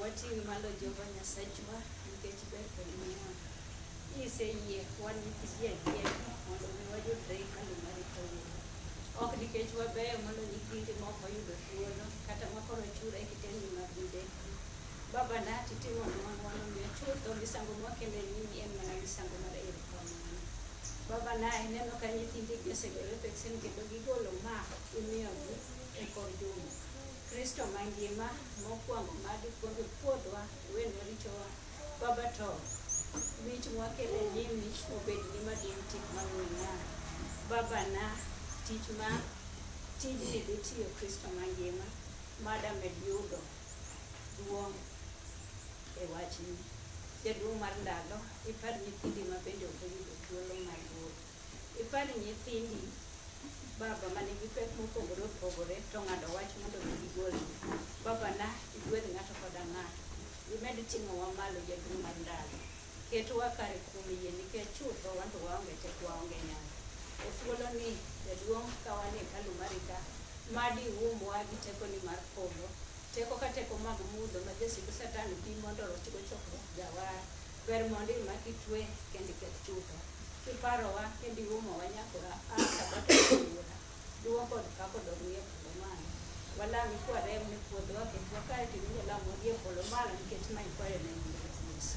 Wating' malo Jehova Nyasachwa nikech ber kod ngima. Kiseyie wan nyithi ji achiel mondo mi wayudre e hekalu mari kawuono. Ok nikech wabeyo mondo nyithindi moko oyudo thuolo kata ma koro chura e kitendi mar midekre. Baba na titimo nwa ng'wono miyo chutho misango mwakelo e nyimi en mana misango mar erokamano. Baba na ineno ka nyithindi gi osegore peksen kendo gigolo ma imiyogi e kor juma. Kristo mangima mokwongo ma dikwongi pwodhwa wenwa richowa Baba to wich mwakele nyimi obed ni madin tik mang'weng'a Baba na tich ma tijni dhitiyo Kristo mangima mada med yudo duong' e wachni jaduong' mar ndalo ipad nyithindi ma bende ok oyudo thuolo mar wuoyo Ipar nyithindi baba ma nigi pek mopogore opogore to ng'ado wach mondo gigol. Baba na igwedh ng'ato koda ng'ato. Imed ting'owa malo jaduong' mar ndalo. Ketwa kare kuom yie nikech chutho wan to waonge teko waonge nyalo. E thuolo ni jaduong' ka wan e hekalu mari ka, mad iumwa gi teko ni mar polo. Teko ka teko mag mudho ma jasik satan bi mondo orochgo chokruok jawar. Ber mondo imak itwe kendo iketh chutho, kiparowa kendo iumowa nyakora a sabato wuora. Duwa kod pak odog ni e polo malo. Walami kwarem ne puodhowa kendo wakae to iwinjo lamwa gi e polo malo nikech ma ikwayo ne nying Ruoth Yesu.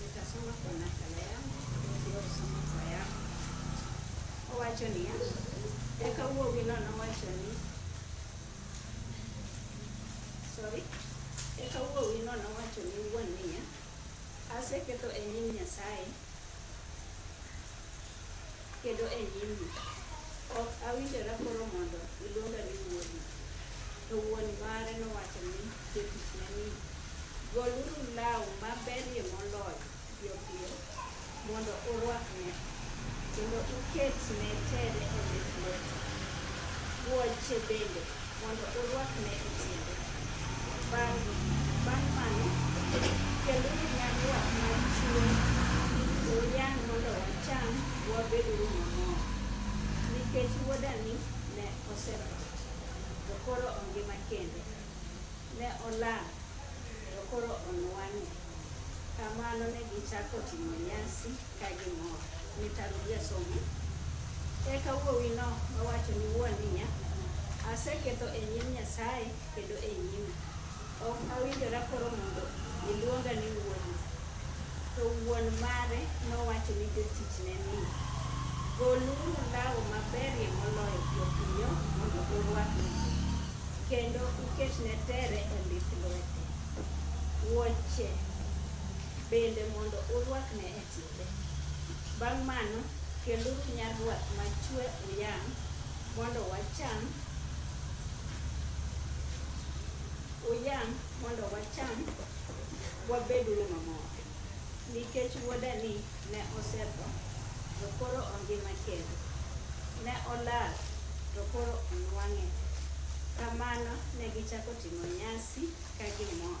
Nitasoma kwa nakala yangu niliyosoma kwa yako. Owacho niya, eka wuowino nowacho ni sorry, eka wuowino nowacho ni wuon niya, aseketho e nyim Nyasaye kendo e nyimgi. Ok awinjora koro mondo iluonga ni wuodi. To wuon mare nowacho ni jotichne ni, Goluru law maberie moloyo piyopiyo mondo urwakne, kendo uketne tere e lith lwete. Wuoche bende mondo urwakne e tiende. Bang' bang' mano, keluru nyarruok mar chiwo, to uyang' mondo wacham, wabeduru mamor. Nikech wuodani ne osetho, to koro ongima kendo, ne olal, to koro onwang'e. Kamano ne gichako timo nyasi. Eka wuowino nowacho ni wuon niya, aseketho e nyim Nyasaye kendo e nyimi. Ok awinjora koro mondo iluonga ni wuodu. To wuon mare nowacho ni jotichne ni, Goluru law maberie moloyo jopiyo mondo urwakne, kendo uketne tere e lith lwete. Wuoche bende mondo urwakne e tiende. Bang' mano, keluru nyarwath machwe uyang' mondo wacham uyang' mondo wacham wabeduru mamor. Nikech wuodani ne osetho to koro ongima kendo, ne olal to koro onwang'e. Kamano ne gichako timo nyasi ka gimor.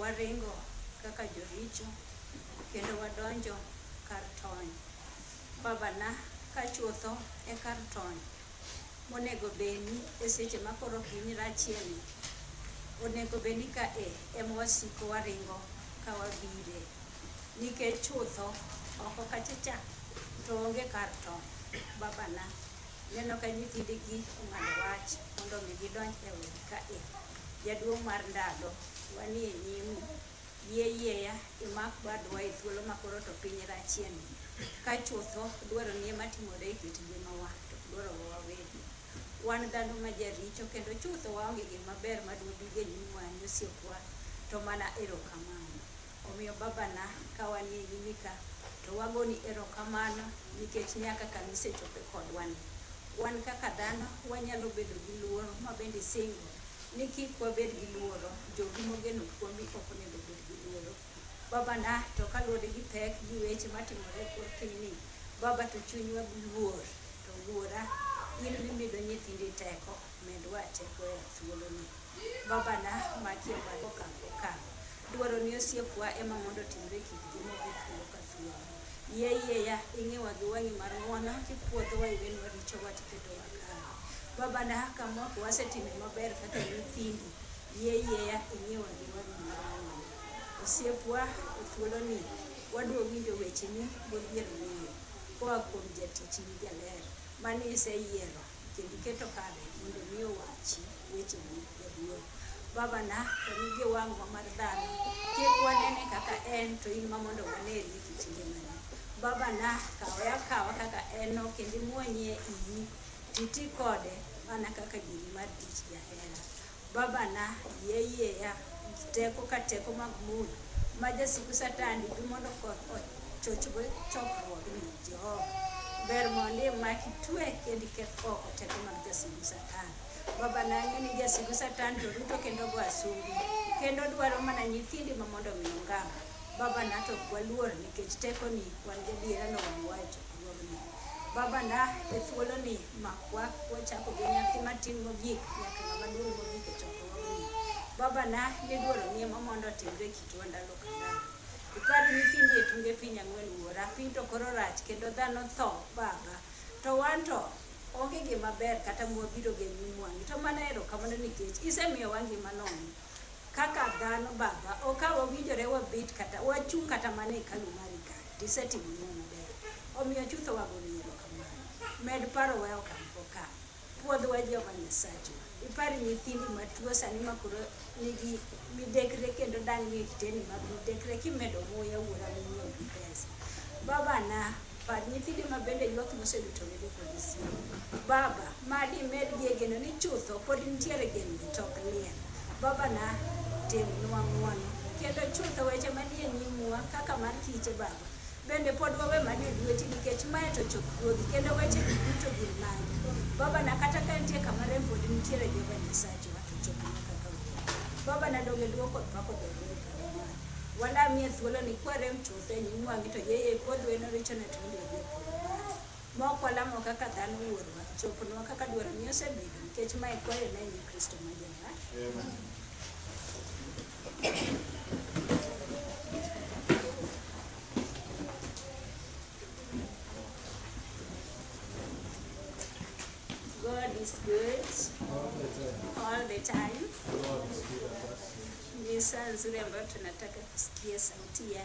waringo kaka joricho kendo wadonjo kar tony. Babana ka chutho e kar tony monego beni e seche ma koro ok in rachieni, onego beni ka e ema wasiko waringo ka wabire nikech chutho oko kachacha to onge kar tony. Babana. Ineno ka nyithindegi ong'ado wach mondo mi gidonj e udi ka e. Jaduong' mar ndalo, wanie nyimu. Yie yieya imak badwa e thuolo ma koro to piny rachien. Ka chutho dwaro nie matimore e kit ngimawa to dwaro wawegi. Wan dhano ma jaricho kendo chutho waonge gima ber ma dwabige nyimwa ni osiepwa to mana erokamano. Omiyo babana ka wan e nyimi ka to wagoni erokamano nikech ne a kaka nisechope kodwa ni. Wan kaka dhano wanyalo bedo gi luoro ma bende isingo ni kik wabed gi luoro, jogi mogeno kuomi ok onego obed gi luoro. Babana to ka luwore gi pek gi weche matimore e kor piny ni, baba to chunywa luor to wuora in mimido nyithindi teko, medwa teko e thuoloni. Babana maki e bad okang' okang'. Dwaro ni osiepwa ema mondo otimre kik gi mogi thuolo ka thuolo. Yie yieya ing'iwa gi wang'i mar ng'wono kipwodhowa iwenwa richowa tiketowa kare. Baba na kama ok wasetime maber kaka nyithindi, yie yieya ing'iwa gi wang'i mar ng'wono. Osiepwa e thuoloni wadwa winjo wecheni modhier ng'eyo koa kuom jatichni jaler mane iseyiero Kendo iketo kare mondo mi owachi weche ni jaduong'. Baba na to nigi wang'wa mar dhano. Kik wanene kaka en to in ma mondo waneni e kit ngimane. Baba na kawe akawa kaka en no kendo imwonyie iyi titi kode mana kaka giri mar tich jahera. Babana, yie yieya gi teko ka teko mag mula ma jasigu Satan nigi mondo koth ochochgo chokruogni. Jehova, ber mondo imak, itue, kendo iketh oko teko mag jasigu Satan. Babana, ang'e ni jasigu Satan to ruto kendo go asumbi, kendo odwaro mana nyithindi ma mondo omi ongam. Babana, to ok waluor nikech tekoni, wan gadiera ni owang'owa e chokruogni. Babana, e thuoloni, Makwa wachako gi nyathi matin mogik nyaka ng'ama duong' mogik e chokruogni. Babana miduoro nie ma mondo otimre e kitwa ndalo ka ndalo. Ipar nyithindi e tunge piny ang'wen wuora, piny to koro rach kendo dhano tho baba. To wan to onge gima ber kata mwabiro gi nyim wang'i. To mana erokamano nikech isemiyowa ngima nono. Kaka dhano baba, okawa winjore wabet kata wachung' kata mana e hekalu mari kae. Isetimonwa maber, omiyo chutho wagoni erokamano. Med parowa e okang' kokang'. Pwodhwa Jehova Nyasachwa. Ipar nyithindi matuo sani makoro nigi midekre kendo dang' nie kiteni mag midekre kimedo muya wuora minyiewogi pesa. Babana, par nyithindi mabende ywak moseluto wedo kod osiepe. Baba, Ma dimedie geno ni chutho pod nitiere geno to ok liel. Babana timnwa ng'uono kendo chutho weche manie nyimwa kaka mar kiche baba. Bende pod wawe mani e lweti nikech mae to chop ruodhi kendo weche gi duto gin magi. Babana kata ka nitie kama rem pod nitiere Jehova Nyasachwa to chopnwa kaka wawinjo. Babana donge luo kod pako dwarore kama. Wanda miye thuolo ni kwarem chutho e nyim wang'i to yeye kodweno richone to onge gi opolo mare. Ma ok walamo kaka dhano wuorwa, chopnwa kaka dwaroni osebedo, nikech ma e kwayo na e Kristo ma Jawar. God is good all the time. Ni saa nzuri ambayo tunataka kusikia sauti ya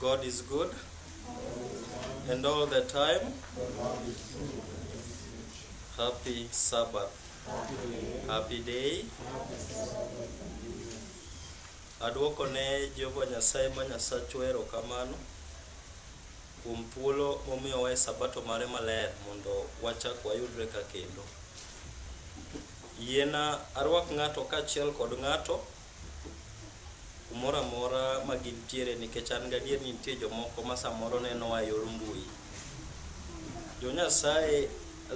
God is good and all the time. Happy Sabbath. Happy day. Adwoko ne Jehova Nyasaye ma Nyasachwa erokamano kuom thuolo momiyowa e sabato mare maler mondo wachak wayudre ka kendo. Yiena arwak ng'ato kaachiel kod ng'ato kumoro amora ma gintiere nikech an gadier ni nitie jomoko ma samoro nenowa e yor mbui. Jo Nyasaye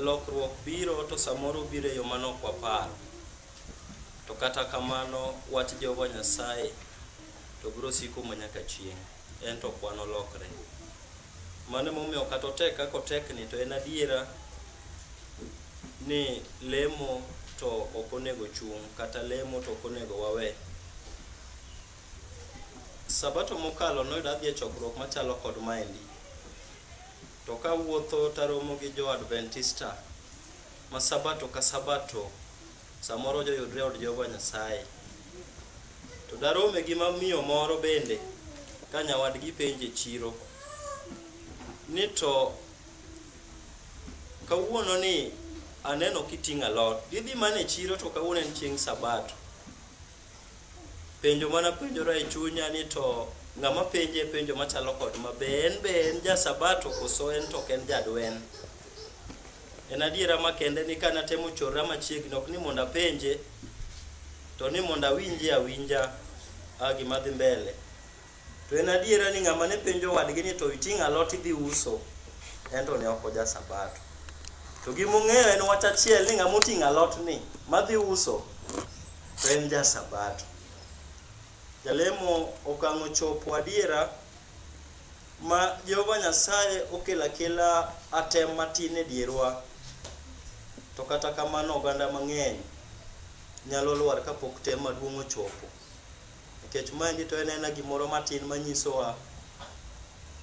lokruok biro to samoro biro e yo ma nok waparo. To kata kamano wach Jehova Nyasaye to biro siko ma nyaka chieng', en to ok wanolokre. Mano emomiyo kata otek kaka otekni to en adiera ni lemo to ok onego chung' kata lemo to ok onego wawe. Sabato mokalo noyudo adhi e chokruok machalo kod maendi. To kawuotho taromo gi jo Adventista ma sabato ka sabato Samoro joyudre e od Jehova Nyasaye. To darome gi mamiyo moro bende ka nyawadgi penje chiro ni to kawuono ni aneno kiting'o alot gidhi mana e chiro to kawuono en chieng' sabato penjo mana penjora e chunya ni to ng'ama penje penjo machalo kod ma be en be en ja sabato koso en to ok en jadwen En adiera makende ni kane atemo chora machiegni ok ni mondo apenje to ni mondo awinje awinja a gima dhi mbele. To en adiera ni ng'ama ne penjo wadgi ni to iting' alot idhi uso en to ne ok oja sabato. To gima ong'eyo en wach achiel ni ng'ama oting' alot ni madhi uso to en ja sabato. Jalemo okang'o chopo adiera ma Jehova Nyasaye okelo akela atem matin e dierwa, to kata kamano oganda mang'eny nyalo lwar kapok tem maduong' ochopo. Nikech maendi to en ena gimoro matin manyisowa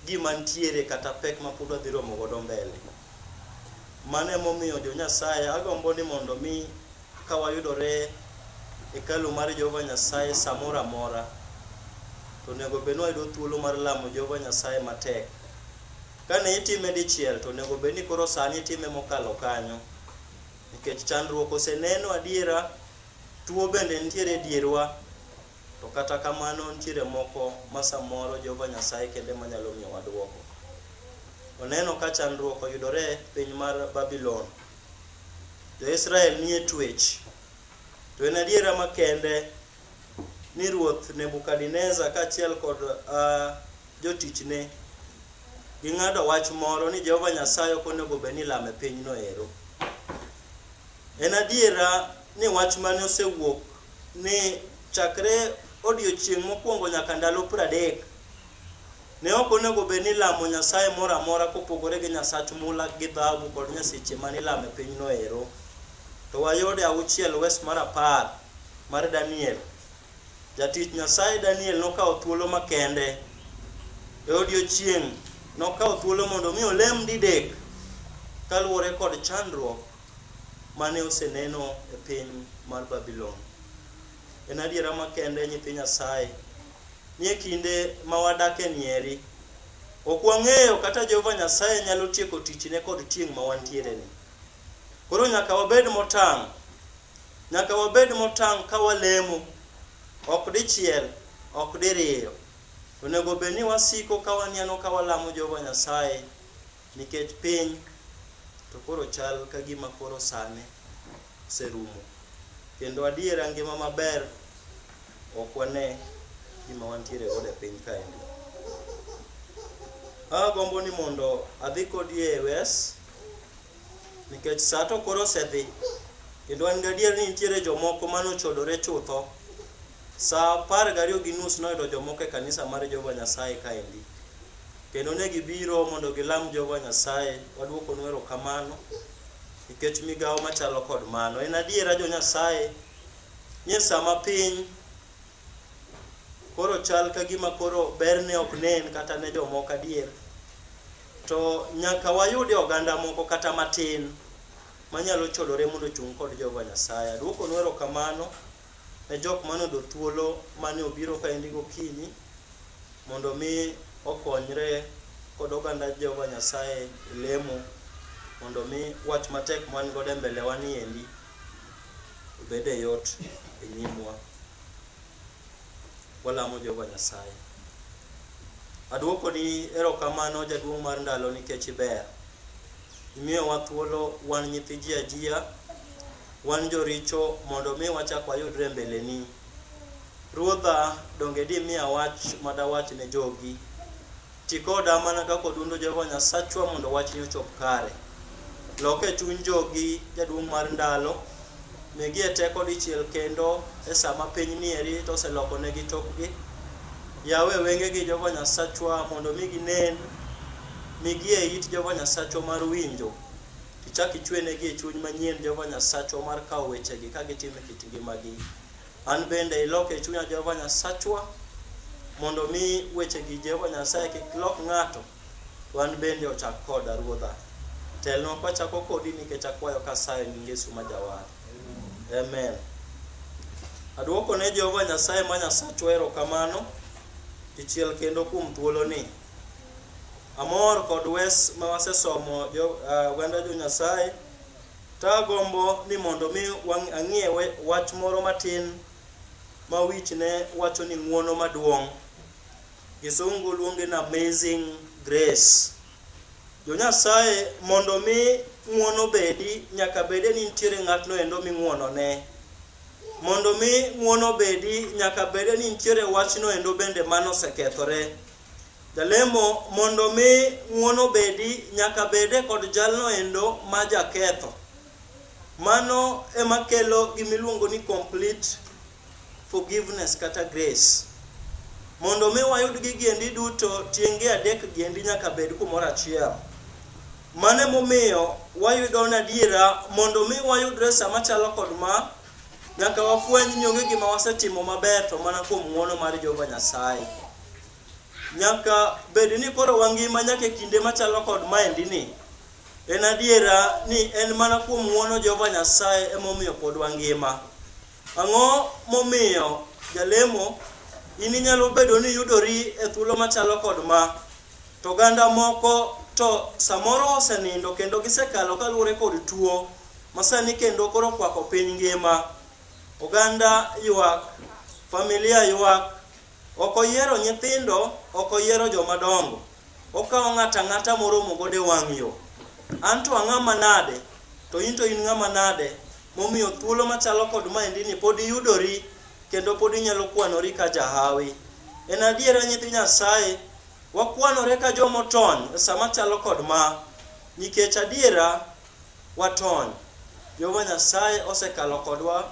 gima ntiere kata pek ma pod wadhi romo godo mbele. Mano emomiyo jo Nyasaye agombo ni mondo mi Ka wayudore e hekalu mar Jehova Nyasaye samoro amora, to onego bed ni wayudo thuolo mar lamo Jehova Nyasaye matek. Kane itime dichiel, to onego bed ni koro sani itime mokalo kanyo, nikech chandruok oseneno adiera, tuo bende nitiere e dierwa, to kata kamano nitiere moko ma samoro Jehova Nyasaye kende ema nyalo miyowa dwoko. Oneno ka chandruok oyudore e piny mar Babulon, Jo-Israel nie twech. To en adiera makende ni ruoth Nebukadneza kaachiel kod uh, jotichne ging'ado wach moro ni Jehova Nyasaye ok onego bed ni lame pinyno ero. En adiera ni wach mane osewuok ni chakre odiochieng' mokwongo nyaka ndalo pradek Ne ok onego bed ni ilamo nyasaye moro amora kopogore gi nyasach mula gi dhahabu kod nyaseche mane ilamo e pinyno ero. To wayudo e auchiel wes mar apar mar Daniel, jatich Nyasaye Daniel nokawo thuolo makende e odiechieng' nokawo thuolo mondo mi olem didek kaluwore kod chandruok mane oseneno e piny mar Babylon. En adiera makende nyithi Nyasaye ni e kinde ma wadakeni eri, ok wang'eyo kata Jehova Nyasaye nyalo tieko tichne kod tieng' ma wantiereni. Koro nyaka wabed motang'. Nyaka wabed motang' ka walemo, ok dichiel, ok diriyo. To onego obed ni wasiko ka waniano ka walamo Jehova Nyasaye nikech piny to koro chal ka gima koro sane. oserumo. Kendo adiera ngima maber ok wane gima wantiere godo e piny kaendi. Agombo ni mondo adhi kodi e wes nikech saa to koro osedhi kendo an gadier ni nitiere jomoko mane ochodore chutho. Saa apar gariyo gi nus noyudo jomoko e kanisa mar Jehova Nyasaye kaendi kendo ne gibiro mondo gilam Jehova Nyasaye. Waduokonu erokamano. Nikech migawo machalo kod mano, en adiera jo Nyasaye ni sama piny koro chal ka gima koro berne ok nen kata ne jomoko adier, to nyaka wayude oganda moko kata matin manyalo chodore mondo ochung' kod Jehova Nyasaye. Aduokonu erokamano. ne jok mane odo thuolo mane obiro kaendi gokinyi mondo mi okonyre kod oganda Jehova Nyasaye e lemo mondo mi wach matek man godo e mbele wa niendi obed e yot e nyimwa. Walamo Jehova Nyasaye. Aduoko ni erokamano jaduong' mar ndalo nikech iber. Imiyowa thuolo wan nyithi ji ajia, wan joricho mondo mi wachak wayudre mbeleni. Ruodha, donge dimiya wach ma dawach ne jogi? Ti koda mana kaka odundo Jehova Nyasachwa mondo wachni ochop kare. Loke chuny jogi, Jaduong' mar ndalo, Migie teko dichiel kendo e sa ma piny ni eri to oselokonegi tokgi. Yawe wengegi Jehova Nyasachwa mondo omi ginen, migie it Jehova Nyasachwa mar winjo. Ichak ichwenegi e chuny manyien Jehova Nyasachwa mar kawo wechegi ka gitimo e kit ngimagi. An bende ilok e chunya Jehova Nyasachwa mondo omi wechegi Jehova Nyasaye kik lok ng'ato To an bende ochak koda, Ruodha. Telnwa kwachako kodi nikech akwayo kasayo e nying Yesu ma Jawar. Amen. Adwoko ne Jehova Nyasaye ma Nyasachwa erokamano dichiel kendo kuom thuoloni. Amor kod wes ma wasesomo jo, uh, oganda jo Nyasaye. Ta agombo ni mondo mi wang- ang'ie we- wach moro matin ma wich ne wacho ni ng'uono maduong'. Gisungu luonge ni amazing grace. Jo Nyasaye, mondo mi ng'uono bedi, nyaka bede ni nitiere ng'atno endo ming'uono ne. Mondo mi ng'uono bedi, nyaka bede ni nitiere wachno endo bende mano osekethore. Jalemo, mondo mi ng'uono bedi, nyaka bede kod jalno endo ma jaketho. Mano ema kelo gimiluongo ni complete forgiveness kata grace. Mondo mi wayud gigi endi duto, tienge adek gi endi nyaka bed kumoro achiel. Mano emomiyo wayudo nadiera mondo mi wayudre sama chalo kod ma, nyaka wafweny ni onge gima wasetimo maber to mana kuom ng'wono mar Jehova Nyasaye. Nyaka bed ni koro wangima nyaka e kinde machalo kod maendi ni. En adiera ni en mana kuom ng'wono Jehova Nyasaye emomiyo pod wangima. Ang'o momiyo jalemo in inyalo bedo ni yudori e thuolo machalo kod ma to ganda moko to samoro osenindo kendo gisekalo kaluwore kod tuo masani kendo koro kwako piny ngima oganda ywak familia ywak Ok oyiero nyithindo, ok oyiero joma dongo. Okawo ng'ato ang'ata moromo godo e wang' yo. An to ang'a manade, to in to in ng'a manade, momiyo thuolo machalo kod maendini pod iyudori kendo pod inyalo kwanori ka jahawi. En adiera nyithi Nyasaye, wakwanore ka jomotony e sama chalo kod ma, nikech adiera watony. Jehova Nyasaye osekalo kodwa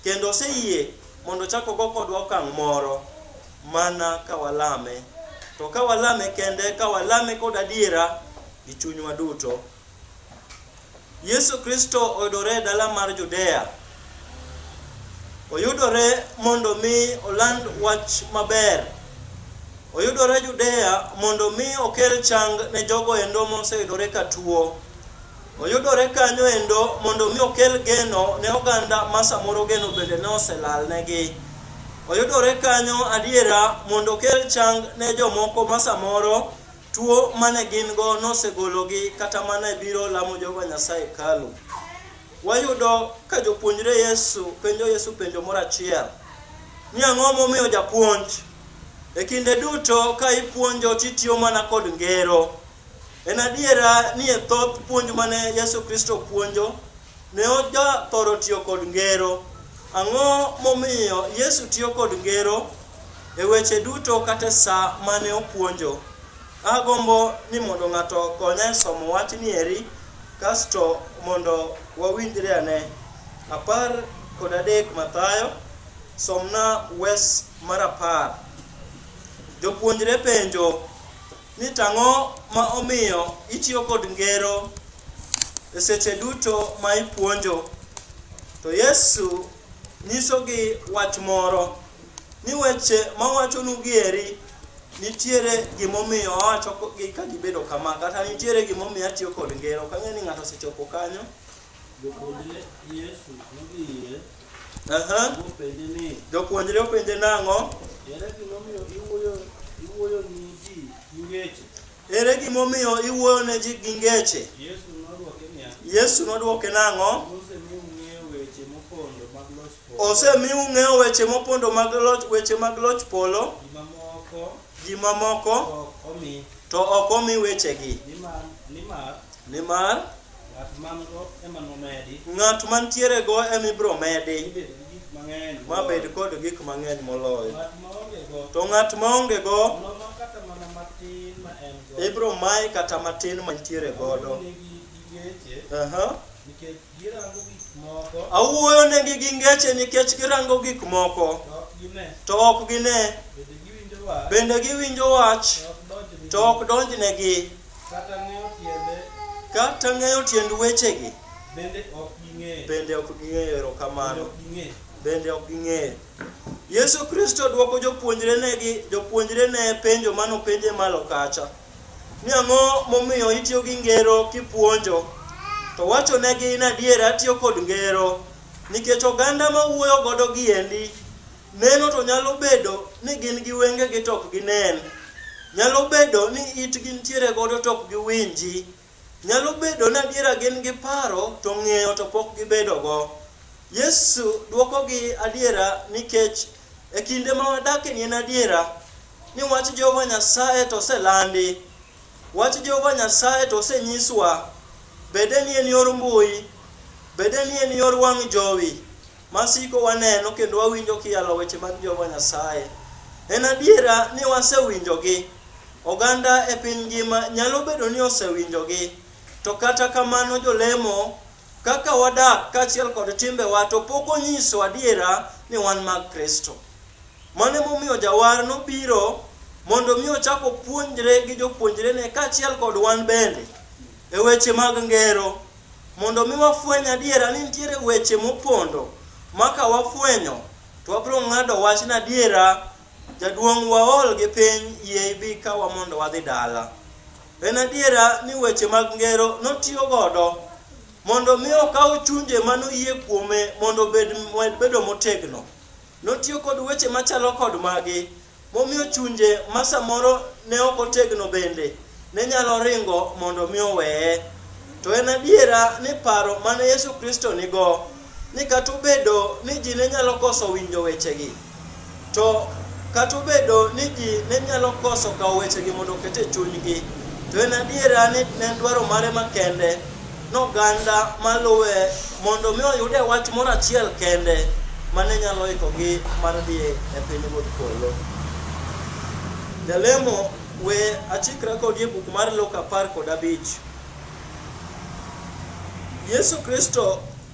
kendo oseyie mondo ochak ogo kodwa okang' moro mana ka walame. To ka walame kende, ka walame kod adiera gi chunywa duto. Yesu Kristo oyudore e dala mar Judea. Oyudore mondo mi oland wach maber. Oyudore Judea mondo mi okel chang ne jogo endo moseyudore ka tuo. Oyudore kanyo endo mondo mi okel geno ne oganda ma samoro geno bende ne oselal negi. Oyudore kanyo adiera mondo okel chang ne jomoko ma samoro tuo mane gin go nosegologi kata mane biro lamo Jehova Nyasaye kalu. Wayudo ka jopuonjre Yesu penjo Yesu penjo moro achiel ni ang'o momiyo japuonj e kinde duto ka ipuonjo titiyo mana kod ngero. En adiera ni e thoth puonj mane Yesu Kristo puonjo ne ojathoro tiyo kod ngero. Ang'o momiyo Yesu tiyo kod ngero e weche duto kata e sa mane opuonjo? Agombo ni mondo ng'ato okonya e somo wachni eri Kasto mondo wawinjre ane, apar kod adek Mathayo, somna wes mar apar. Jopuonjre penjo ni tang'o ma omiyo itiyo kod ngero e seche duto ma ipuonjo. To Yesu nyisogi wach moro ni weche mawachonugi eri nitiere gimomiyo awacho gi ka gibedo kama kata nitiere gimomiyo atiyo kod ngero ok ang'e ni ng'ato osechopo kanyo Jopuonjre Yesu nodhi ire Aha. mopenje ni, jopuonjre openje nang'o ere gimomiyo iwuoyo iwuoyo ni ji gi weche? Ere gima omiyo iwuoyo ne ji gi ngeche? Yesu nodwoke niya, Yesu nodwoke nang'o? Osemi ung'eyo weche mopondo mag loch weche mag loch polo. Ji mamoko to ok omi wechegi. Nimar Ng'at man-go ema nomedi. Ng'at mantierego ema ibiro medi. Ibed gi gik mang'eny. Ma bed kod gik mang'eny moloyo. Ng'at ma ongego. To ng'at ma ongego. Noma kata mana matin ma en go. Ibiro maye kata matin mantiere godo. Nikech girango gik moko. Awuoyo negi gi ngeche nikech girango gik moko. To ok gine. Bende giwinjo wach. To ok donjnegi. Kata ng'eyo tiende. Kata ng'eyo tiend wechegi. Bende ok ging'eyo. Bende ok ging'eyo erokamano. Bende ok ging'eyo. Yesu Kristo dwoko jopuonjrene gi jopuonjrene penjo mano penje malo kacha. Ni ang'o momiyo itiyo gi ngero kipuonjo? To wachonegi in adier atiyo kod ngero nikech oganda ma wuoyo godo giendi Neno to nyalo bedo ni gin gi wengegi to ok ginen. Nyalo bedo ni itgi nitiere godo to ok giwinji. Nyalo bedo ni adiera gin gi paro to ng'eyo to pok gibedogo. Yesu dwokogi adiera nikech e kinde ma wadakie ni en adiera ni wach Jehova Nyasaye to oselandi. Wach Jehova Nyasaye to osenyiswa. Bede ni en yor mbui, bede ni en yor wang' jowi, ma siko waneno kendo wawinjo kiyalo weche mag Jehova Nyasaye. En adiera ni wasewinjogi. Oganda e piny ngima nyalo bedo ni osewinjogi, to kata kamano jolemo kaka wadak kaachiel kod timbewa to pok onyiso adiera ni wan mag Kristo. Mano emomiyo jawar nobiro mondo mi ochak opuonjre gi jopuonjrene kaachiel kod wan bende e weche mag ngero Mondo mi wafweny adiera ni nitiere weche mopondo ma ka wafwenyo to wabiro ng'ado wach na adiera jaduong' waol gi piny yie ibi kawa mondo wadhi dala. En adiera ni weche mag ngero notiyo godo mondo mi okaw chunje mano yie kuome mondo obed bedo motegno. Notiyo kod weche machalo kod magi Momiyo chunje ma samoro ne ok otegno bende ne nyalo ringo mondo mi oweye. To en adiera ni paro mane Yesu Kristo nigo ni kata obedo ni ji ne nyalo koso winjo wechegi, to kata obedo ni ji ne nyalo koso kawo wechegi mondo oket e chunygi, to en adiera ni ne en dwaro mare makende Noganda maluwe mondo mi oyude wach moro achiel kende mane nyalo ikogi mar dhi e piny wuod polo. Jalemo we achikra kodi e buk mar Luka apar kod abich. Yesu Kristo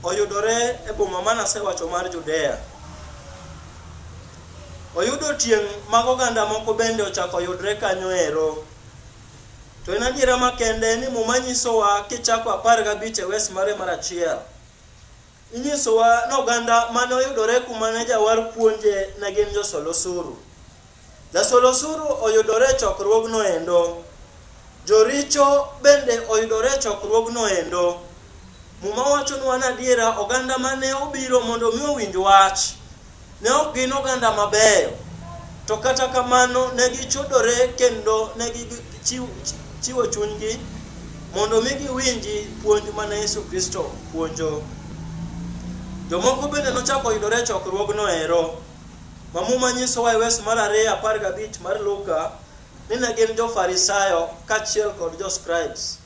oyudore e boma ma nasewacho mar Judea. Oyudo tieng' mag oganda moko bende ochako yudre kanyo ero. To en adiera makende ni Muma nyisowa kichako apar gabich e wes mare mar achiel. Inyisowa ni oganda mane oyudore kuma ne jawar puonje ne gin josol osuru. Jasol osuru oyudore e chokruogno endo. Joricho bende oyudore e chokruogno endo. Muma wachonwa ni adiera oganda mane obiro mondo mi owinj wach Ne ok gin oganda mabeyo, to kata kamano ne gichodore kendo ne gichiwo chunygi mondo mi giwinji puonj mane Yesu Kristo puonjo. Jomoko bende nochako yudore e chokruogno ero. Ma muma nyisowa e wes mar ariyo apar gabich mar Luka ni ne gin jo-Farisayo kaachiel kod jo-Scribes.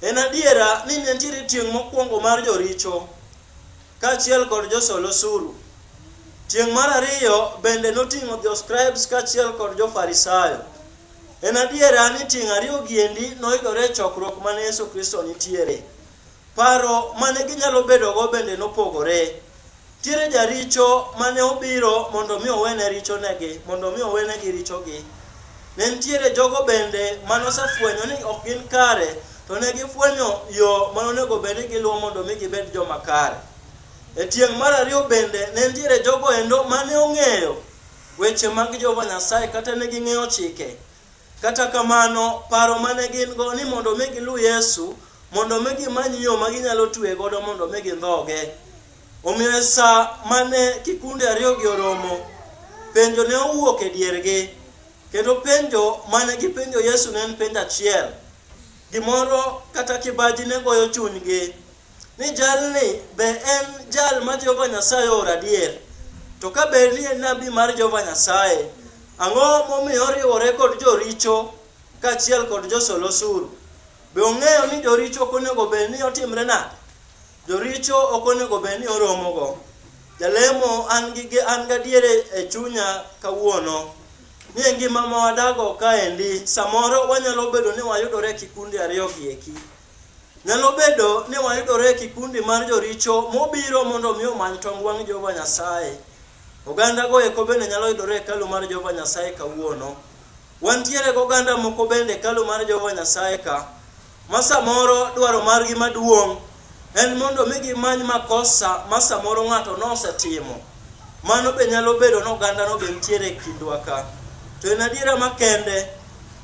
En adiera ni ne nitiere tieng' mokwongo mar joricho kaachiel kod josol osuru. Tieng' mar ariyo bende noting'o joscribes kaachiel kod jofarisayo. En adiera ni tieng' ariyo giendi noyudore e chokruok mane Yesu Kristo nitiere. Paro mane ginyalo bedogo bende nopogore. Nitiere jaricho mane obiro mondo mi owene richonegi, mondo mi owenegi richogi. Ne nitiere jogo bende mane osefwenyo ni ok gin kare, to ne gifwenyo yo ma onego bed ni giluwo mondo mi gibed joma kare. E tieng' mar ariyo bende ne nitiere jogo endo mane ong'eyo weche mag Jehova Nyasaye kata ne ging'eyo chike. Kata kamano, paro ma ne gin-go ni mondo mi giluw Yesu, mondo mi gimany yo ma ginyalo tue godo mondo mi gindhoge. Omiyo e sa ma ne kikunde ariyogi oromo, penjo ne owuok e diergi, kendo penjo ma ne gipenjo Yesu ne en penjo achiel. Gimoro kata kibaji ne goyo chunygi ni jalni be en jal ma Jehova Nyasaye ooro adier. To ka bed ni en nabi mar Jehova Nyasaye, ang'o momiyo oriwore kod joricho kaachiel kod josol osuru? Be ong'eyo ni joricho ok onego bed ni otimre nade? Joricho ok onego bed ni oromogo. Jalemo an gi an gadiere e chunya kawuono ni e ngima ma wadago kaendi, samoro wanyalo bedo ni wayudore e kikundi ariyo gi eki. Nyalo bedo ni wayudore e kikundi mar joricho mobiro mondo mi omany tong wang' Jehova Nyasaye. Oganda go eko bende nyalo yudore e hekalu mar Jehova Nyasaye kawuono. Wantiere gi oganda moko bende e hekalu mar Jehova Nyasaye ka, ma samoro dwaro margi maduong' en mondo mi gimany makosa ma samoro ng'ato nosetimo. Mano be nyalo bedo ni ogandano be nitiere e kindwa ka. To en adiera makende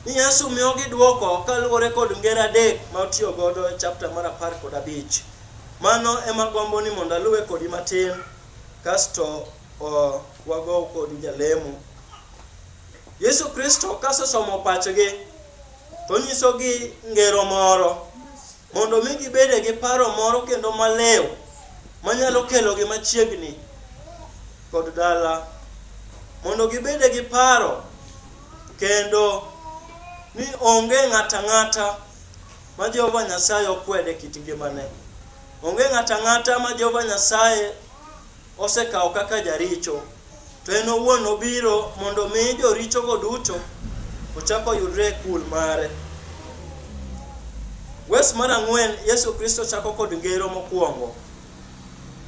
ni Yesu miyogi dwoko kaluwore kod ngero adek ma otiyo godo e chapta mar apar kod abich. Mano ema gombo ni mondo aluwe kodi matin kasto wago kodi jalemo. Yesu Kristo kasesomo pachgi to onyisogi ngero moro mondo mi gibede gi paro moro kendo malew manyalo kelogi machiegni kod dala mondo gibede gi paro kendo ni onge ng'ata ng'ata ma Jehova Nyasaye okwede kit ngimane. Onge ng'ata ng'ata ma Jehova Nyasaye osekawo kaka jaricho, to en owuon obiro mondo mi jorichogo duto ochako yudre e kul mare. Wes mar ang'wen, Yesu Kristo chako kod ngero mokwongo.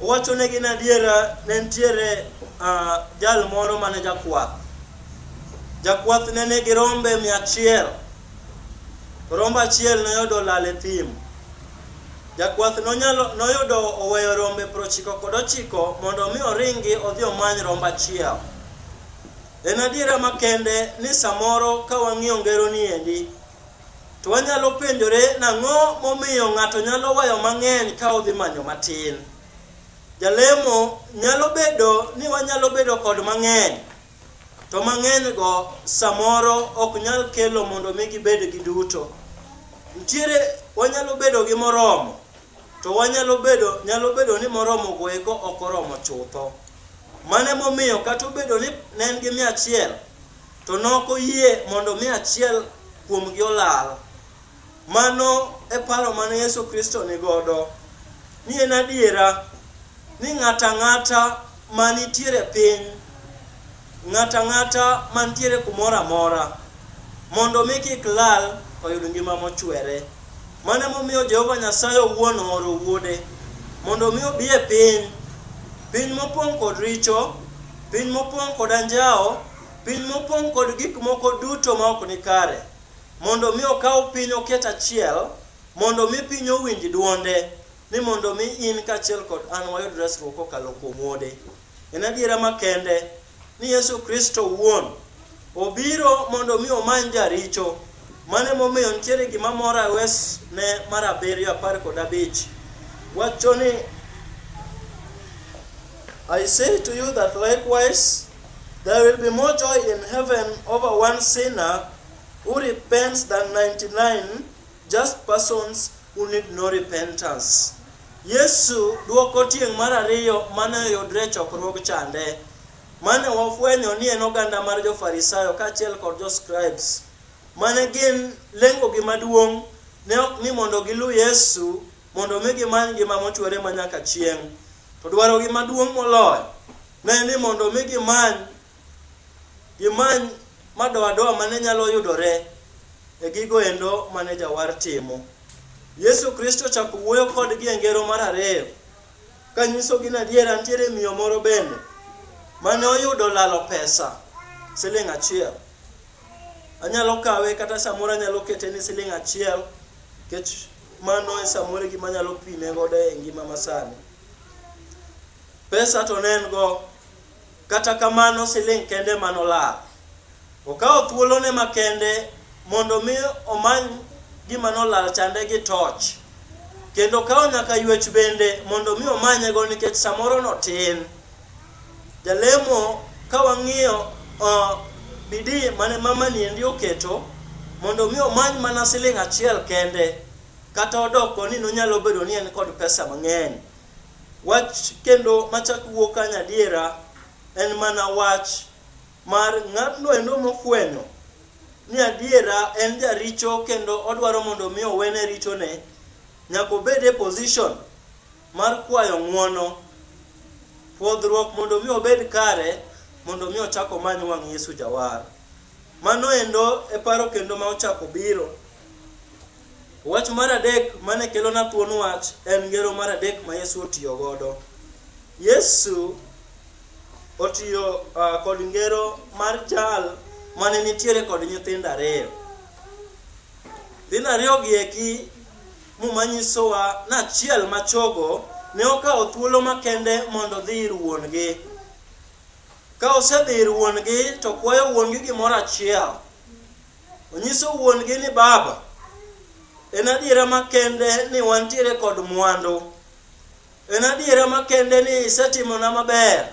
Owacho ne gin adiera, ne nitiere uh, jal moro mane jakwath. Jakwath ne nigi rombe mia achiel. Rombo achiel noyudo lal e thim. Jakwath nonyalo noyudo oweyo rombe prochiko kod ochiko mondo mi oringi odhi omany rombo achiel. En adiera makende ni samoro ka wang'iyo ngero ni endi, To wanyalo penjore nang'o momiyo ng'ato nyalo weyo mang'eny ka odhi manyo matin. Jalemo nyalo bedo ni wanyalo bedo kod mang'eny, to mang'enygo samoro ok nyal kelo mondo mi gibed gi duto. Nitiere wanyalo bedo gi moromo, to wanyalo bedo nyalo bedo ni moromo go eko ok oromo chutho. Mane momiyo kata obedo ni ne en gi mia achiel, To nok oyie mondo mi achiel kuomgi olal. Mano e paro mane Yesu Kristo ni godo. Ni en adiera ni ng'ato ang'ata ma nitiere piny, ng'ato ang'ata ma nitiere kumoro amora, mondo mi kik lal oyud ngima mochwere. Mano emomiyo Jehova Nyasaye owuon ooro wuode mondo mi obi e piny, piny mopong' kod richo, piny mopong' kod anjawo, Piny mopong' kod gik moko duto ma ok nikare, mondo mi okaw piny oket achiel, mondo mi piny owinj dwonde, ni mondo mi in kaachiel kod an wayud resruok kokalo kuom Wuode. En adiera makende ni Yesu Kristo wuon obiro mondo mi omany jaricho. Mano emomiyo nitiere gima mora wes ne mar abiriyo apar kod abich. Wacho ni I say to you that likewise There will be more joy in heaven over one sinner who repents than 99 just persons who need no repentance. Yesu duoko tieng' mar ariyo mane oyudre e chokruog chande mane wafwenyo ni en oganda mar jo-Farisayo kaachiel kod jo-scribes mane gin lengogi maduong' ne ok ni mondo giluw Yesu mondo mi gimany ngima mochwere ma nyaka chieng'. To dwarogi maduong' moloyo ne ni mondo mi gimany gimany madoadoa mane nyalo yudore e gigo endo mane jawar timo. Yesu Kristo chako wuoyo kodgi e ngero mar ariyo kanyisogi ni adiera nitiere miyo moro bende mane oyudo lalo pesa siling' achiel. Anyalo kawe kata samoro anyalo kete ni siling' achiel nikech Mano e samoro gima nyalo pime godo e ngima masani. Pesa to ne en go, kata kamano siling' kende manolal. Okawo thuolone makende mondo mi omany gima nolal chande gi toch. Kendo okawo nyaka ywech bende mondo mi omanyego nikech samoro notin. Jalemo ka wang'iyo uh, bidi mane mama niendi oketo mondo mi omany mana siling' achiel kende kata odoko ni nonyalo bedo ni en kod pesa mang'eny. Wach kendo machak wuok ka nyadiera en mana wach mar ng'atno endo mofwenyo ni adiera en jaricho kendo odwaro mondo mi owene richone nyaka obed e position mar kwayo ng'wono, pwodhruok mondo mi obed kare, mondo mi ochak omany wang' Yesu Jawar. Mano endo e paro kendo ma ochako biro. Wach mar adek mane kelona thuon wach en ngero mar adek ma Yesu otiyo godo. Yesu otiyo uh, kod ngero mar jal mane nitiere kod nyithindo ariyo. Nyithindo ariyo gi eki Muma nyisowa ni achiel ma chogo ne okawo thuolo makende mondo odhi ir wuon-gi. Ka osedhi ir wuon-gi to kwayo wuon-gi gimoro achiel. Onyiso wuon-gi ni baba, en adiera makende ni wantiere kod mwandu. En adiera makende ni isetimona maber.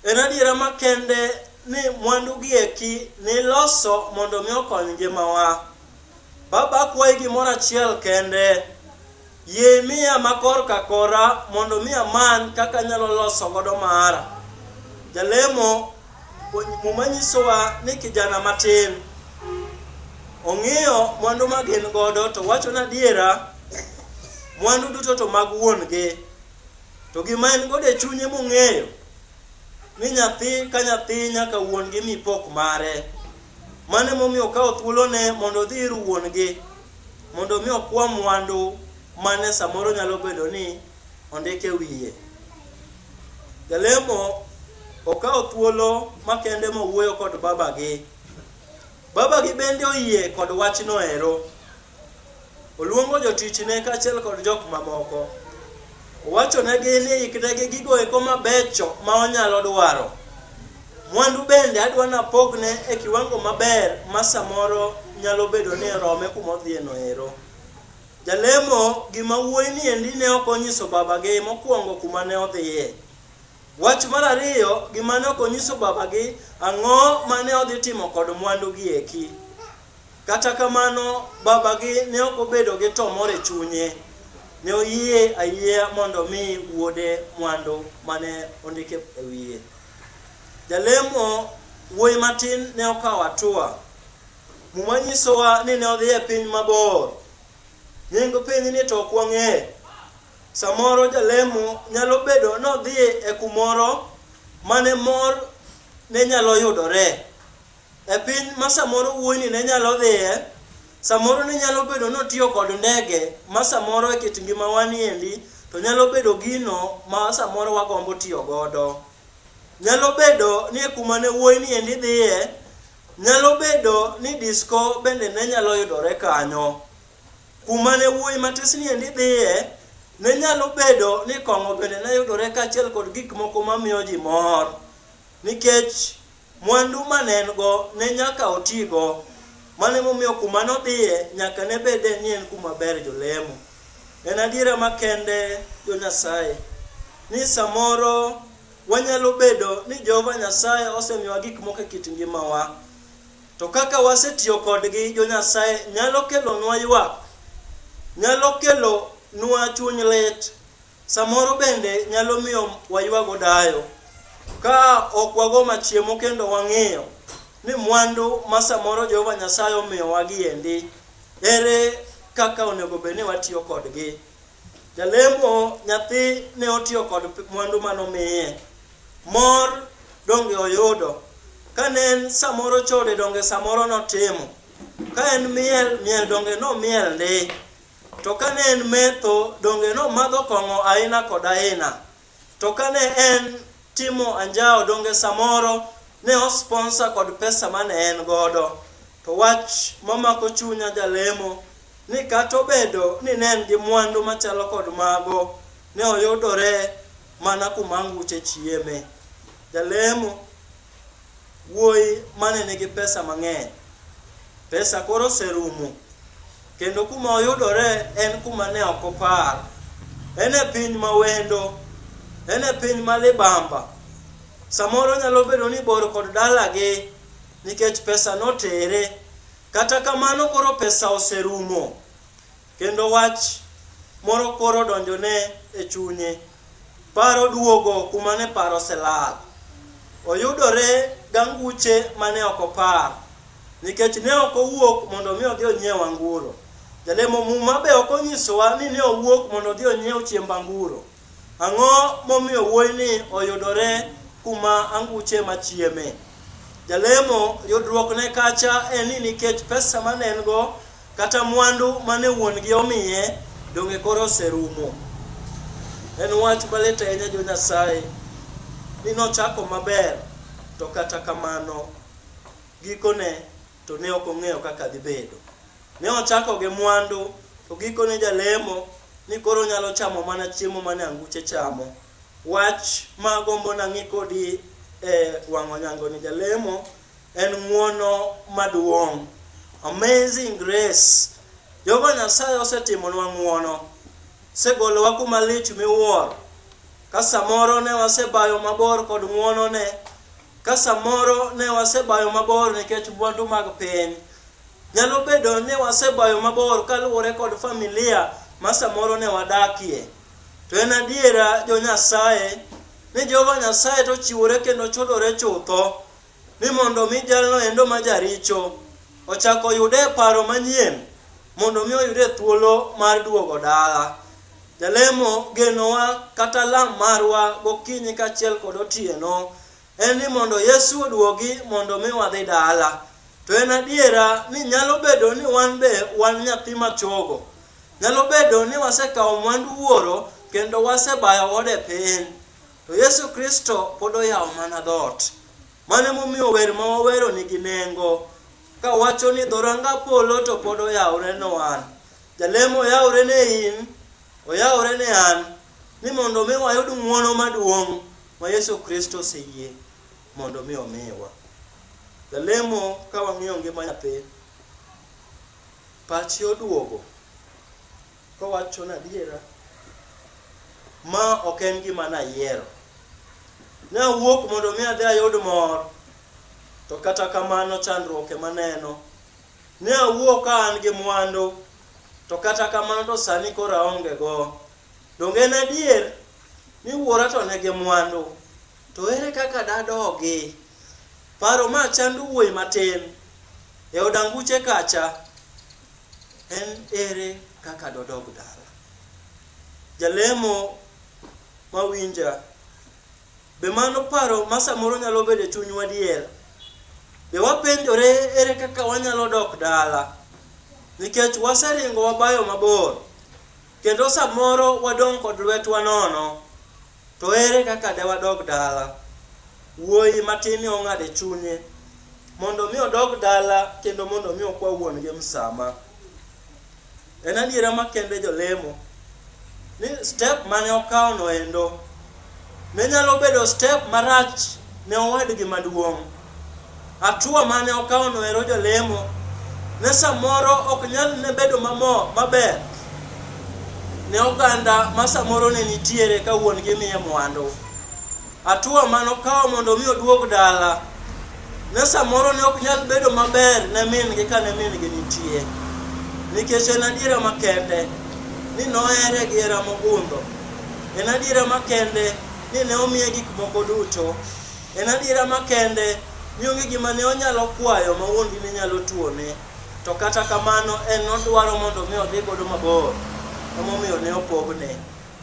En adiera makende ni mwandu gi eki niloso mondo mi okony ngimawa. Baba akwayi gimoro achiel kende, yie imiya makor ka kora mondo mi amany kaka anyalo loso godo mara. Jalemo muma nyisowa ni kijana matin ong'iyo mwandu ma gin godo to wacho na adiera mwandu duto to mag wuon gi. To gima en godo e chunye mong'eyo ni nyathi ka nyathi nyaka wuon gi mi pok mare. Mano emomiyo okawo thuolone mondo odhi ir wuon gi mondo mi okwa mwandu mane samoro nyalo bedo ni ondike wiye. Jalemo okawo thuolo makende mowuoyo kod babagi. Babagi bende oyie kod wachno ero. Oluongo jotichne kaachiel kod jok mamoko. Owachonegi ni iknegi gigo eko mabecho ma onyalo dwaro. Mwandu bende adwa napogne e kiwango maber ma samoro nyalo bedo ni rome kuma odhiyeno ero. Jalemo gima wuoyi ni endi ne ok onyiso babagi mokwongo kuma ne odhiye. Wach mar ariyo gima ne ok onyiso babagi ang'o ma ne odhi timo kod mwandugi eki. Kata kamano, babagi ne ok obedo gi to mor e chunye. Ne oyie ayieya mondo omi wuode mwandu ma ne ondik e wiye. Jalemo wuoyi matin ne okawo atua. Muma nyisowa ni ne odhi e piny mabor. Nying piny ni to ok wang'eyo. Samoro jalemo nyalo bedo nodhi e kumoro mane mor ne nyalo yudore. e piny ma samoro wuoyini ne nyalo dhiye, samoro ne nyalo bedo ni otiyo kod ndege ma samoro e kit ngimawa niendi to nyalo bedo gino ma samoro wagombo tiyo godo. Nyalo bedo ni e kuma ne wuoyini endi dhiye, nyalo bedo ni disko bende ne nyalo yudore kanyo. Kuma ne wuoyi matisni endi dhiye, ne nyalo bedo ni kong'o bende ne yudore kaachiel kod gik moko mamiyo ji mor nikech Mwandu ma ne en-go ne nyaka otigo. Mano emomiyo kuma nodhiye nyaka ne bede ni en kuma ber jolemo. En adiera makende jo Nyasaye ni samoro wanyalo bedo ni Jehova Nyasaye osemiyowa gik moko e kit ngimawa. To kaka wasetiyo kodgi jo Nyasaye nyalo kelonwa ywak, nyalo kelonwa chuny lit, Samoro bende nyalo miyo waywago dayo ka ok wago machiemo kendo wang'iyo ni mwandu ma samoro Jehova Nyasaye omiyowa giendi ere kaka onego bed ni watiyo kodgi. Jalemo nyathi ne otiyo kod mwandu mane omiye. Mor donge oyudo. Kane en samoro chode donge samoro notimo. Ka en miel, miel donge nomiel ndi. To ka ne en metho, donge nomadho kong'o aina kod aina? To ka ne en timo anjawo, donge samoro ne osponsa kod pesa ma ne en godo? To wach mamako chunya jalemo ni kata obedo ni ne en gi mwandu machalo kod mago, ne oyudore mana kuma anguche chieme. Jalemo wuoyi mane nigi pesa mang'eny. Pesa koro oserumo, kendo kuma oyudore en kuma ne ok opar. En e piny ma wendo, en e piny ma libamba. Samoro nyalo bedo ni bor kod dalagi nikech pesa notere. Kata kamano koro pesa oserumo. Kendo wach moro koro donjone e chunye. Paro duogo kuma ne paro oselal. Oyudore ganguche mane ok opar. Nikech ne ok owuok mondo mi odhi onyiew anguro. Jalemo muma be ok onyisowa ni ne owuok mondo odhi onyiew chiemb anguro. Ang'o momiyo wuoyini oyudore kuma anguche ema chieme? Jalemo, yudruokne kacha en ni nikech pesa ma ne en go kata mwandu ma ne wuon-gi omiye donge koro oserumo. En wach malit ahinya jo Nyasaye ni nochako maber to kata kamano gikone to ne ok ong'eyo kaka dhi bedo. Ne ochako gi mwandu, to gikone jalemo ni koro onyalo chamo mana chiemo mane anguche chamo. Wach ma agombo nang'i kodi e wang'o nyango ni jalemo en ng'uono maduong'. Amazing grace. Jehova Nyasaye osetimonwa ng'uono. Segolowa kuma lich miwuoro. Ka samoro ne wasebayo mabor kod ng'uonone, Ka samoro ne wasebayo mabor nikech mwandu mag piny, nyalo bedo ni wasebayo mabor kaluwore kod familia ma samoro ne wadakie. To en adiera jo Nyasaye ni Jehova Nyasaye to chiwore kendo chodore chutho ni mondo mi jalno endo ma jaricho ochako yude paro manyien mondo mi oyude thuolo mar duogo dala. Jalemo genowa kata lam marwa gokinyi kaachiel kod otieno en ni mondo Yesu oduogi mondo mi wadhi dala. To en adiera ni nyalo bedo ni wan be wan nyathi machogo. Nyalo bedo ni wasekawo mwandu wuoro kendo wasebayo ode piny. To Yesu Kristo pod oyawo mana dhoot. Mano emomiyo wer ma wawero nigi nengo kawacho ni dhoranga polo to pod oyawore ne wan. Jalemo oyawore ne in, oyawore ne an, ni mondo mi wayud ng'wono maduong' ma Yesu Kristo oseyie mondo mi omiwa. Jalemo ka wang'iyo ngima nyathi, pachi oduogo kowacho na adiera ma ok en gima nayiero. Ne awuok mondo mi adhi ayud mor, to kata kamano chandruok ema neno. Ne awuo ka an gi mwandu, to kata kamano to sani koro aonge go. Donge en adier ni wuora to ne gi mwandu? To ere kaka dadogi? Paro ma chando wuoyi matin e od anguche kacha en ere kaka dodog dala? Jalemo mawinja Be mano paro ma samoro nyalo bedo e chunywa dier? Be wapenjore ere kaka wanyalo dok dala? Nikech waseringo wabayo mabor, kendo samoro wadong' kod lwetwa nono, to ere kaka de wadog dala? Wuoyi matinni ong'ado e chunye mondo mi odog dala kendo mondo mi okwa wuon-gi msama. En adiera makende jolemo ni step mane okawo no endo ne nyalo bedo step marach ne owadgi maduong'. Atua mane okawo no ero jolemo ne samoro ok nyal ne bedo mamo maber ne oganda ma samoro ne nitiere ka wuon gi miye mwandu. Atua mane okawo mondo mi oduog dala Ne samoro ne ok nyal bedo maber ne min-gi ka ne min-gi nitie, nikech en adiera makende ni nohere gi hera mogundho. En adiera makende ni ne omiye gik moko duto. En adiera makende ni onge gima ne onyalo kwayo ma wuon-gi ne nyalo tuone. To kata kamano, en nodwaro mondo mi odhi godo mabor, emomiyo ne opogne.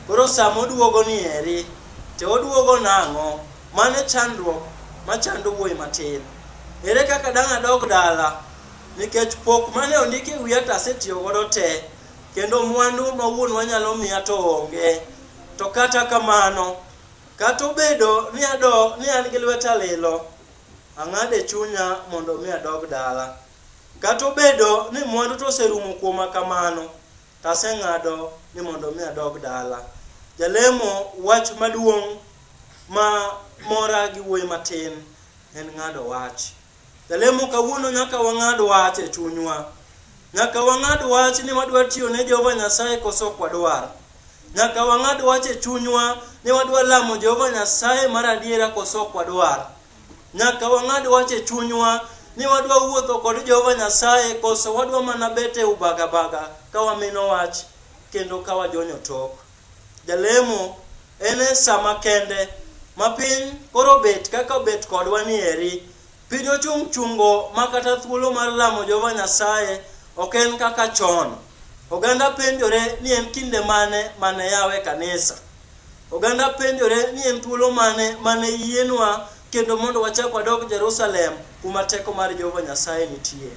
Koro sama oduogo ni eri, to oduogo nang'o? Mano e chandruok ma chando wuoyi matin. Ere kaka dang' adog dala? Nikech pok mane ondik e wiya to asetiyo godo te, kendo mwandu ma wuonwa nyalo miya to onge. To kata kamano, kata obedo ni adog ni an gi lweta lilo, ang'ado e chunya mondo mi adog dala. Kata obedo ni mwandu to oserumo kuoma kamano, To aseng'ado ni mondo mi adog dala. Jalemo, wach maduong' ma mora gi wuoyi matin en ng'ado wach. Jalemo kawuono nyaka wang'ad wach e chunywa. Nyaka wang'ad wach ni wadwa tiyo ne Jehova Nyasaye koso ok wadwar. Nyaka wang'ad wach e chunywa ni wadwa lamo Jehova Nyasaye mar adiera koso ok wadwar. Nyaka wang'ad wach e chunywa ni wadwa wuotho kod Jehova Nyasaye koso wadwa mana bet e ubagabaga ka wamino wach kendo ka wajonyo tok. Jalemo en e sama kende ma piny koro bet kaka obet kodwa ni eri. Piny ochung' chungo ma kata thuolo mar lamo Jehova Nyasaye ok en kaka chon. Oganda penjore ni en kinde mane mane yawe kanisa. Oganda penjore ni en thuolo mane mane yienwa kendo mondo wachak wadog Jerusalem kuma teko mar Jehova Nyasaye nitie.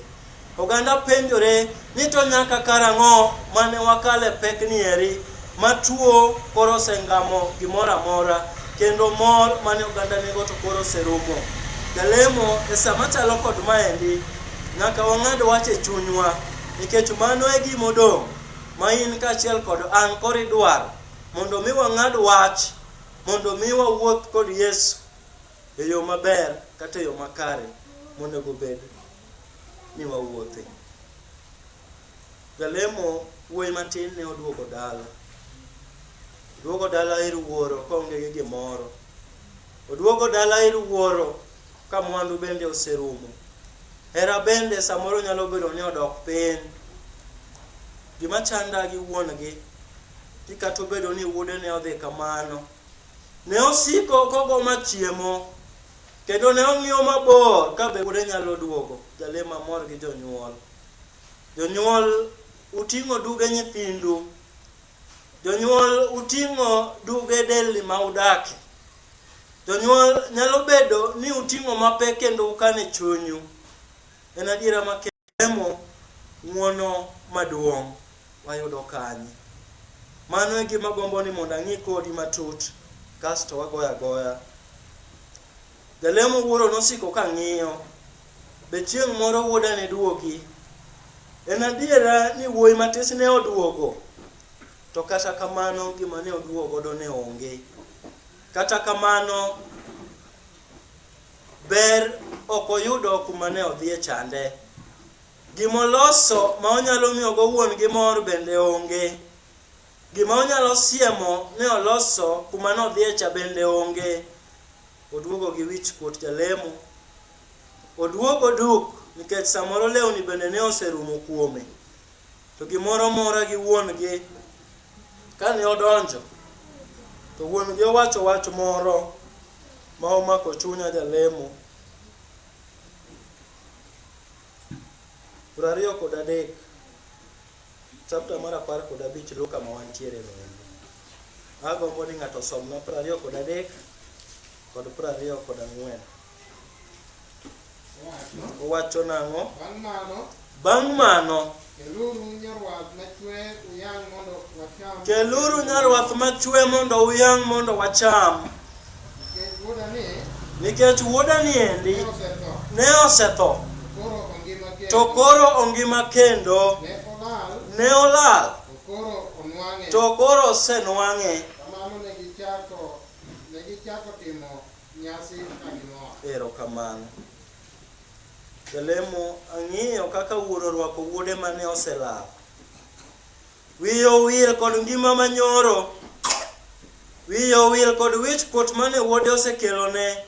Oganda penjore ni to nyaka karang'o mane wakale pek ni eri ma tuo koro osengamo gimoro amora kendo mor mane oganda nigo to koro oserumo. Jalemo e sama chalo kod maendi nyaka wang'ad wach e chunywa nikech mano e gima odong' ma in kaachiel kod an koro idwaro Mondo mi wang'ad wach, mondo mi wawuoth kod Yesu e yo maber kata e yo makare monego bed ni wawuothe. Jalemo wuoyi matin ne oduogo dala. Oduogo dala ir wuoro kaonge gi gimoro. Oduogo dala ir wuoro Ka mwandu bende oserumo, hera bende samoro nyalo bedo ni odok piny. Gima chanda gi wuon-gi, ni kata obedo ni wuode ne odhi kamano, ne osiko kogo ma chiemo, kendo ne ong'iyo mabor ka be wuode nyalo duogo. Jale mamor gi jonyuol. Jonyuol, uting'o duge nyithindu Jonyuol uting'o duge delni ma udakie. Jonyuol nyalo bedo ni uting'o mapek kendo ukano e chunyu. En adiera ma kemo ng'uono maduong' wayudo kanye? Mano e gima gombo ni mondo ang'i kodi matut kasto wagoya goya. Jalemo wuoro nosiko ka ng'iyo. Be chieng' moro wuoda ne duogi? En adiera ni wuoyi matis ne oduogo, to kata kamano gima ne oduogo godo ne onge. Kata kamano, ber ok oyudo kuma ne odhiye chande. Gima oloso ma onyalo miyogo wuon gi mor bende onge. Gima onyalo siemo ne oloso kuma ne odhiye cha bende onge. Oduogo gi wich kuot jalemo. Oduogo duk nikech samoro lewni bende ne oserumo kuome. To gimoro mora gi wuon gi kane odonjo to wuon gi owacho wach moro ma omako chunya jalemo. Prariyo kod adek. Chapter mar apar kod abich luw kama wantiere no endo. Agombo ni ng'ato osomna piero ariyo kod adek kod piero ariyo kod ang'wen. Wacho, Owacho nang'o? bang' mano, Bang' mano, keluru nyarwath machwe uyang' mondo wacham. keluru nyarwath machwe mondo uyang' mondo wacham. Nikech wuoda ni endi ne osetho, to koro ongima kendo, ne olal, to koro osenwang'e. Erokamano. Jalemo ang'iyo kaka wuoro orwako wuode mane oselal. Wiye owil kod ngima manyoro. Wiye owil kod wich kuot mane wuode osekelone.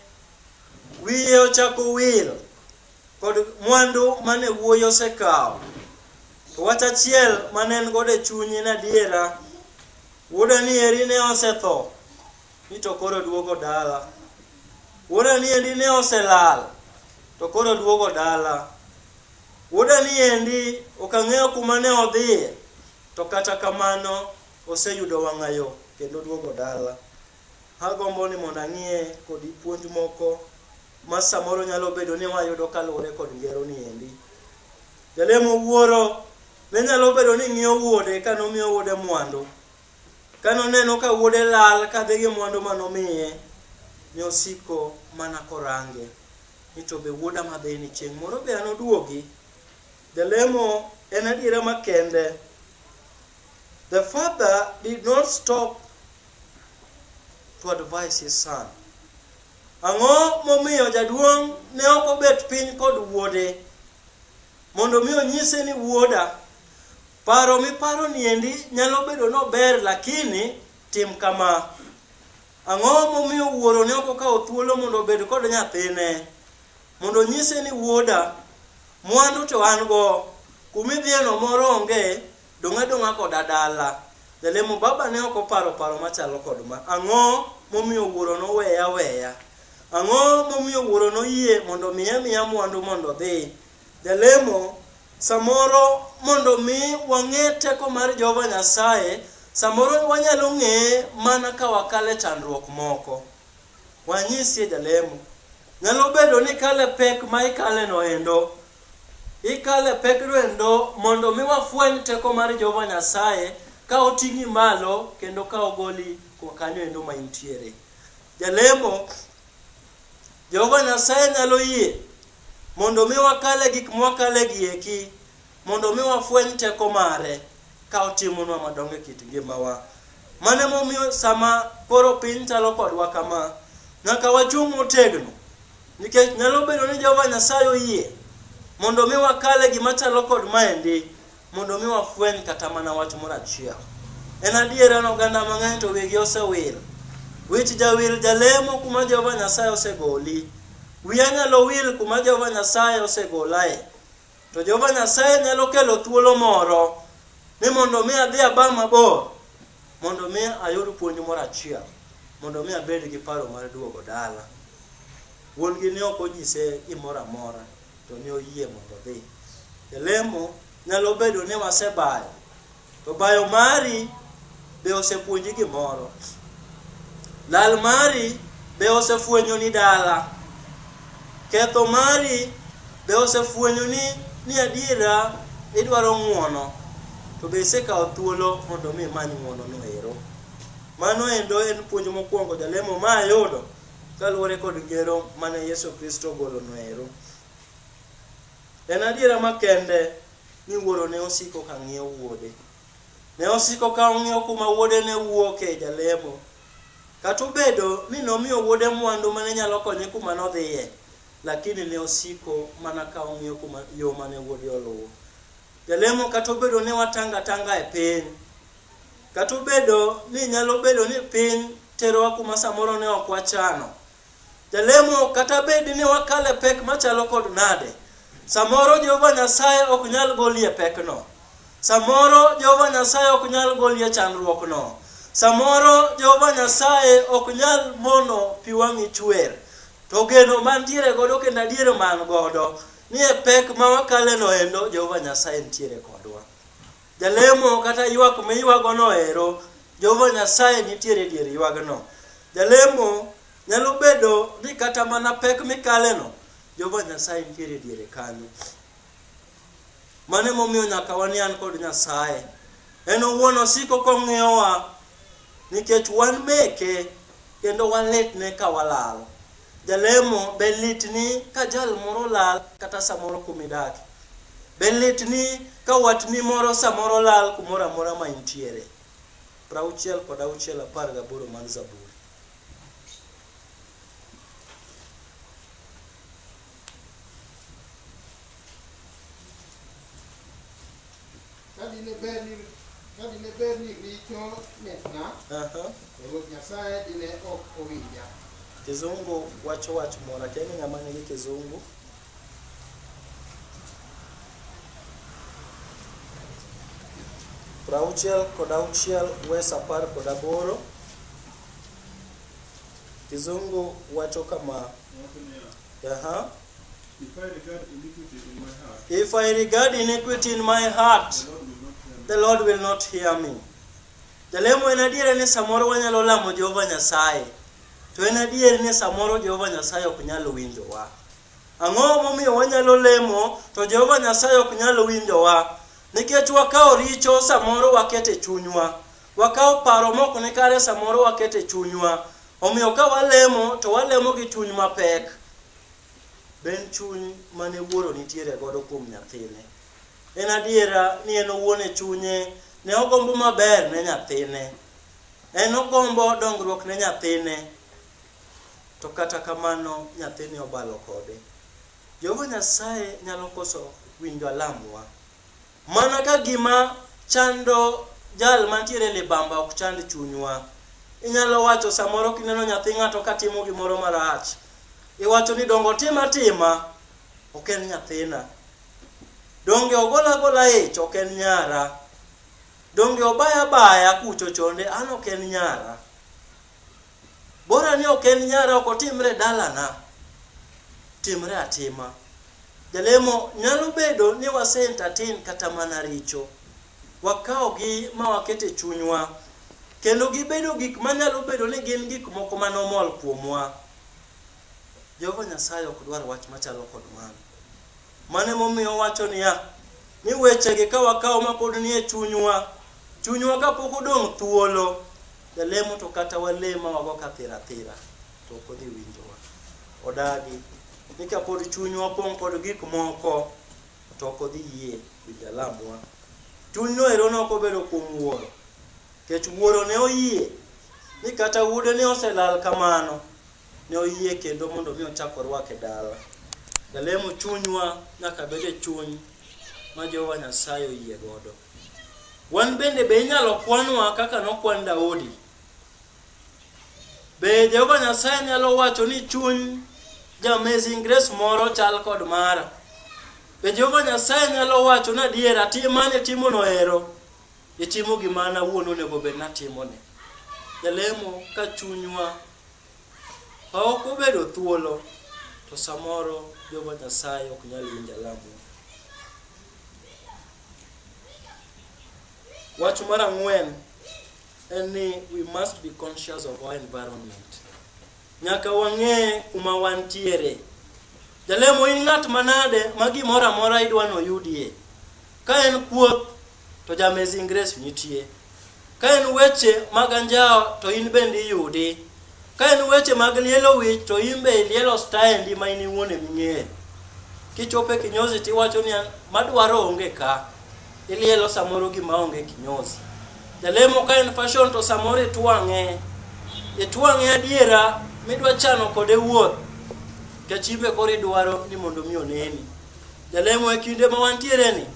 Wiye ochako wil kod mwandu mane wuoyi osekawo. To wach achiel mane en godo e chunye en adiera. Wuoda ni eri ne osetho, ni to koro duogo dala. Wuoda ni eri ne oselal, to koro duogo dala. Wuoda ni endi ok ang'eyo kuma ne odhiye, to kata kamano oseyudo wang'ayo kendo duogo dala. Agombo ni mondo ang'ie kodi puonj moko ma samoro nyalo bedo ni wayudo kaluwore kod ngero ni endi. Jalemo wuoro ne nyalo bedo ni ng'iyo wuode ka nomiyo wuode mwandu. Ka noneno ka wuode lal kadhi gi mwandu ma nomiye, ne osiko mana korange. ni to be wuoda madhini chieng' moro be anoduogi jalemo en adiera makende the father did not stop to advise his son ang'o momiyo jaduong' ne ok obet piny kod wuode mondo mi onyise ni wuoda paro miparo niendi nyalo bedo nober lakini tim kama Ang'o momiyo wuoro ne ok okawo thuolo mondo obed kod nyathine? Mondo onyise ni wuoda, mwandu to an go, kumidhiyeno moro onge, dong' adong'a koda dala. Jalemo baba ne ok oparo paro machalo kod ma. Ang'o momiyo wuoro noweya weya? Ang'o momiyo wuoro noyie mondo miya miya mwandu mondo odhi? Jalemo, Samoro mondo mi wang'e teko mar Jehova Nyasaye, samoro wanyalo ng'eye mana ka wakale chandruok moko. Wanyisie jalemo. Nyalo bedo ni kale pek ma ikale no endo. Ikale pek no endo mondo mi wafweny teko mar Jehova Nyasaye ka oting'i malo kendo ka ogoli kwa kanyo endo ma intiere. Jalemo, Jehova Nyasaye nyalo yie mondo mi wakale gik mwakale gi eki mondo mi wafweny teko mare ka otimonwa madongo e kit ngimawa. Mane momiyo sama koro piny chalo kodwa kama, nyaka wachung' motegno nikech nyalo bedo ni Jehova Nyasaye oyie mondo mi wakale gima chalo kod maendi Mondo mi wafweny kata mana wach moro achiel. En adier an oganda mang'eny to wigi osewil. Wich jawil jalemo kuma Jehova Nyasaye osegoli. Wiya nyalo wil kuma Jehova Nyasaye osegolae. To Jehova Nyasaye nyalo kelo thuolo moro ni mondo mi adhi aba mabor mondo mi ayud puonj moro achiel mondo mi abed gi paro mar duogo dala. Wuon gi ne ok onyise gimoro amora. to ne oyie mondo odhi. E lemo nyalo bedo ni wasebayo, to bayo mari be osepuonji gimoro. Lal mari be osefwenyo ni dala. Ketho mari be osefwenyo ni ni adiera idwaro ng'uono to be isekawo thuolo mondo mi imany ng'uono no ero. Mano endo en puonj mokwongo jalemo ma ayudo. Kaluwore kod ngero mane Yesu Kristo ogolo noero, en adiera makende ni wuoro ne osiko ka ng'iyo wuode. Ne osiko ka ong'iyo kuma wuode ne wuoke jalemo. Kata obedo ni nomiyo wuode mwandu mane nyalo konye kuma nodhiye, lakini ne osiko mana ka ong'iyo kuma yo mane wuode oluwo. Jalemo kata obedo ni watanga tanga e piny, Kata obedo ni nyalo bedo ni piny terowa kuma samoro ne ok wachano. Jalemo kata bed ni wakale pek machalo kod nade, samoro Jehova Nyasaye ok nyal golie pekno. Samoro Jehova Nyasaye ok nyal golie chandruokno. Samoro Jehova Nyasaye ok nyal mono pi wang'i chwer. To geno mantiere godo kendo adier man godo ni e pek ma wakaleno endo Jehova Nyasaye nitiere kodwa. Jalemo kata ywak miywagono ero, Jehova Nyasaye nitiere e dier ywagno. Jalemo nyalo bedo ni kata mana pek mikaleno, Jehova Nyasaye nitiere e diere kanyo. Mano emomiyo nyaka wanian kod Nyasaye. En owuon osiko kong'iyowa nikech wan meke kendo walitne ka walal. Jalemo, be litni ka jal moro lal kata samoro kumidake? Be litni ka watni moro samoro lal kumoro amora ma intiere? Prauchiel kod auchiel apar gaboro mar Zaburi. Ka dine ber ni ka dine ber ni richo mitna, Aha. to Ruoth Nyasaye dine ok owinja. Kizungu wacho wach moro, akia ni ng'ama nigi kizungu. Prauchiel kod auchiel wes apar kod aboro. Kizungu wacho kama. Aha. If I regard iniquity in my heart, the Lord will not hear me. Jalemo en adier ni samoro wanyalo lamo Jehova Nyasaye, to en adier ni samoro Jehova Nyasaye ok nyal winjowa. Ang'o momiyo wanyalo lemo to Jehova Nyasaye ok nyal winjowa? Nikech wakawo richo samoro wakete chunywa. Wakawo paro mok ni kare samoro wakete chunywa. Omiyo ka walemo to walemo gi chuny mapek. Be en chuny mane wuoro nitiere godo kuom nyathine? En adiera ni en owuon e chunye ne ogombo maber ne nyathine. En ogombo dongruok ne nyathine. To kata kamano nyathine obalo kode. Jehova Nyasaye nyalo koso winjo alamwa. Mana ka gima chando jal mantiere libamba ok chand chunywa. Inyalo wacho samoro kineno nyathi ng'ato ka timo gimoro marach, iwacho ni dongo tima tima, ok en nyathina. Donge ogola gola ich, ok en nyara. Donge obaya baya kucho chonde, an ok en nyara. Bora ni ok en nyara ok otimre dalana. Timre atima. Jalemo nyalo bedo ni wase entertain kata mana richo. Wakawogi ma wakete chunywa. Kendo gibedo gik manyalo bedo ni gin gik moko manomol kuomwa. Jehova Nyasaye ok dwar wach machalo kod mano. Mano emomiyo owacho niya, ni wechegi ka wakawo ma pod nie chunywa, chunywa kapok odong' thuolo, jalemo to kata walema wago ka thira thira, to ok odhi winjowa. Odagi ni kapod chunywa opong' kod gik moko, to ok odhi yie winjo alamwa. Chuny noero ne ok obedo kuom wuoro, nikech wuoro ne oyie ni kata wuode ne oselal kamano, ne oyie kendo mondo mi ochak orwake dala. Jalemo chunywa nyaka bed e chuny ma Jehova Nyasaye oyie godo. Wan bende be inyalo kwanwa kaka nokwan Daudi. Be Jehova Nyasaye nyalo wacho ni chuny ja Amazing Grace moro chal kod mara? Be Jehova Nyasaye nyalo wacho ni adiera timane timono ero? Itimo gima an awuon onego bed natimone. Jalemo ka chunywa Ok obedo thuolo to samoro Jehova Nyasaye ok nyal winjo alamu. Wach mar ang'wen en ni we must be conscious of our environment. Nyaka wang'e kuma wantiere. Jalemo in ng'at manade ma gimoro amora idwa noyudie. Ka en kuoth to ja Amazing Grace nitie. Ka en weche mag anjawo to in bende iyudi. Ka en weche mag lielo wich to in be ilielo staendi ma in iwuon ema ing'eyo. Kichopo e kinyozi to iwacho ni madwaro onge ka. Ilielo samoro gima onge kinyozi. Jalemo ka en fashion to samoro itwang'e. Itwang'e adiera midwa chano kode wuoth. Kachibe koro idwaro ni mondo mi oneni. Jalemo e kinde ma wantiere ni,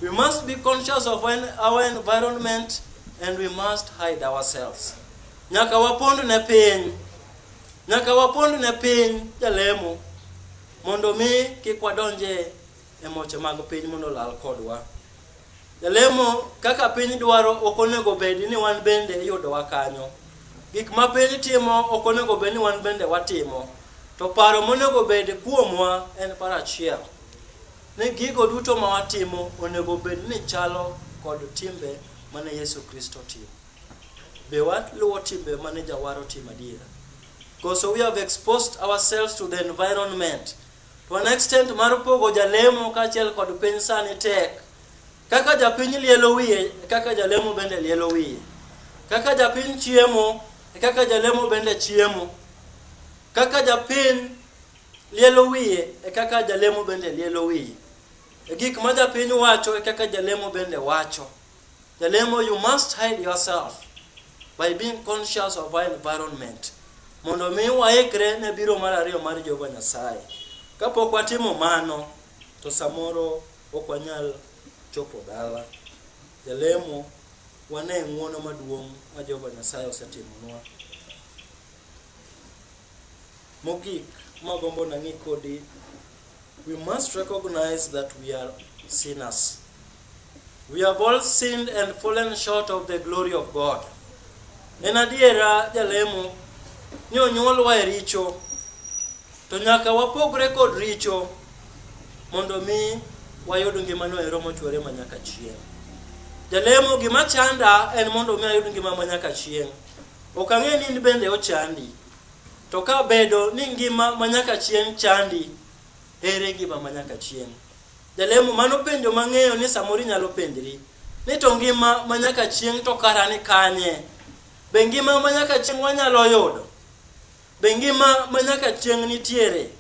we must be conscious of our environment and we must hide ourselves. Nyaka wapond ne piny, nyaka wapond ne piny jalemo mondo mi kik wadonje e moche mag piny mondo lal kodwa. Jalemo kaka piny dwaro ok onego bed ni wan bende iyudowa kanyo. Gik ma piny timo ok onego bed ni wan bende watimo. To paro monego bed kuomwa en paro achiel ni gigo duto ma watimo onego bed ni chalo kod timbe mane Yesu Kristo timo. Be waluwo timbe mane Jawar otimo adiera? Because we have exposed ourselves to the environment To an extent mar pogo jalemo kaachiel kod piny sani tek. Kaka japiny lielo wiye, e kaka jalemo bende lielo wiye. Kaka japiny chiemo, e kaka jalemo bende chiemo. Kaka japiny lielo wiye, e kaka jalemo bende lielo wiye. E gik ma japiny wacho, e kaka jalemo bende wacho. Jalemo, you must hide yourself by being conscious of our environment mondo mi waikre ne biro mar ariyo mar Jehova Nyasaye. Kapok watimo mano, to samoro ok wanyal chopo dala. Jalemo, wane ng'wono maduong' ma Jehova Nyasaye osetimonwa. Mogik, magombo nang'i kodi We must recognize that we are sinners. We have all sinned and fallen short of the glory of God. En adiera jalemo ni onyuolwa e richo to nyaka wapogre kod richo mondo mi wayud ngimano ero mochwere ma nyaka chieng'. Jalemo gima chanda en mondo mi ayud ngima ma nyaka chieng'. Ok ang'e ni in bende ochandi. To ka bedo ni ngima ma nyaka chieng' chandi, ere ngima ma nyaka chieng'? Jalemo mano penjo mang'eyo ni samoro inyalo penjri ni to ngima ma nyaka chieng' to kara ni kanye? Be ngima ma nyaka chieng' wanyalo yudo? Be ngima ma nyaka chieng' nitiere?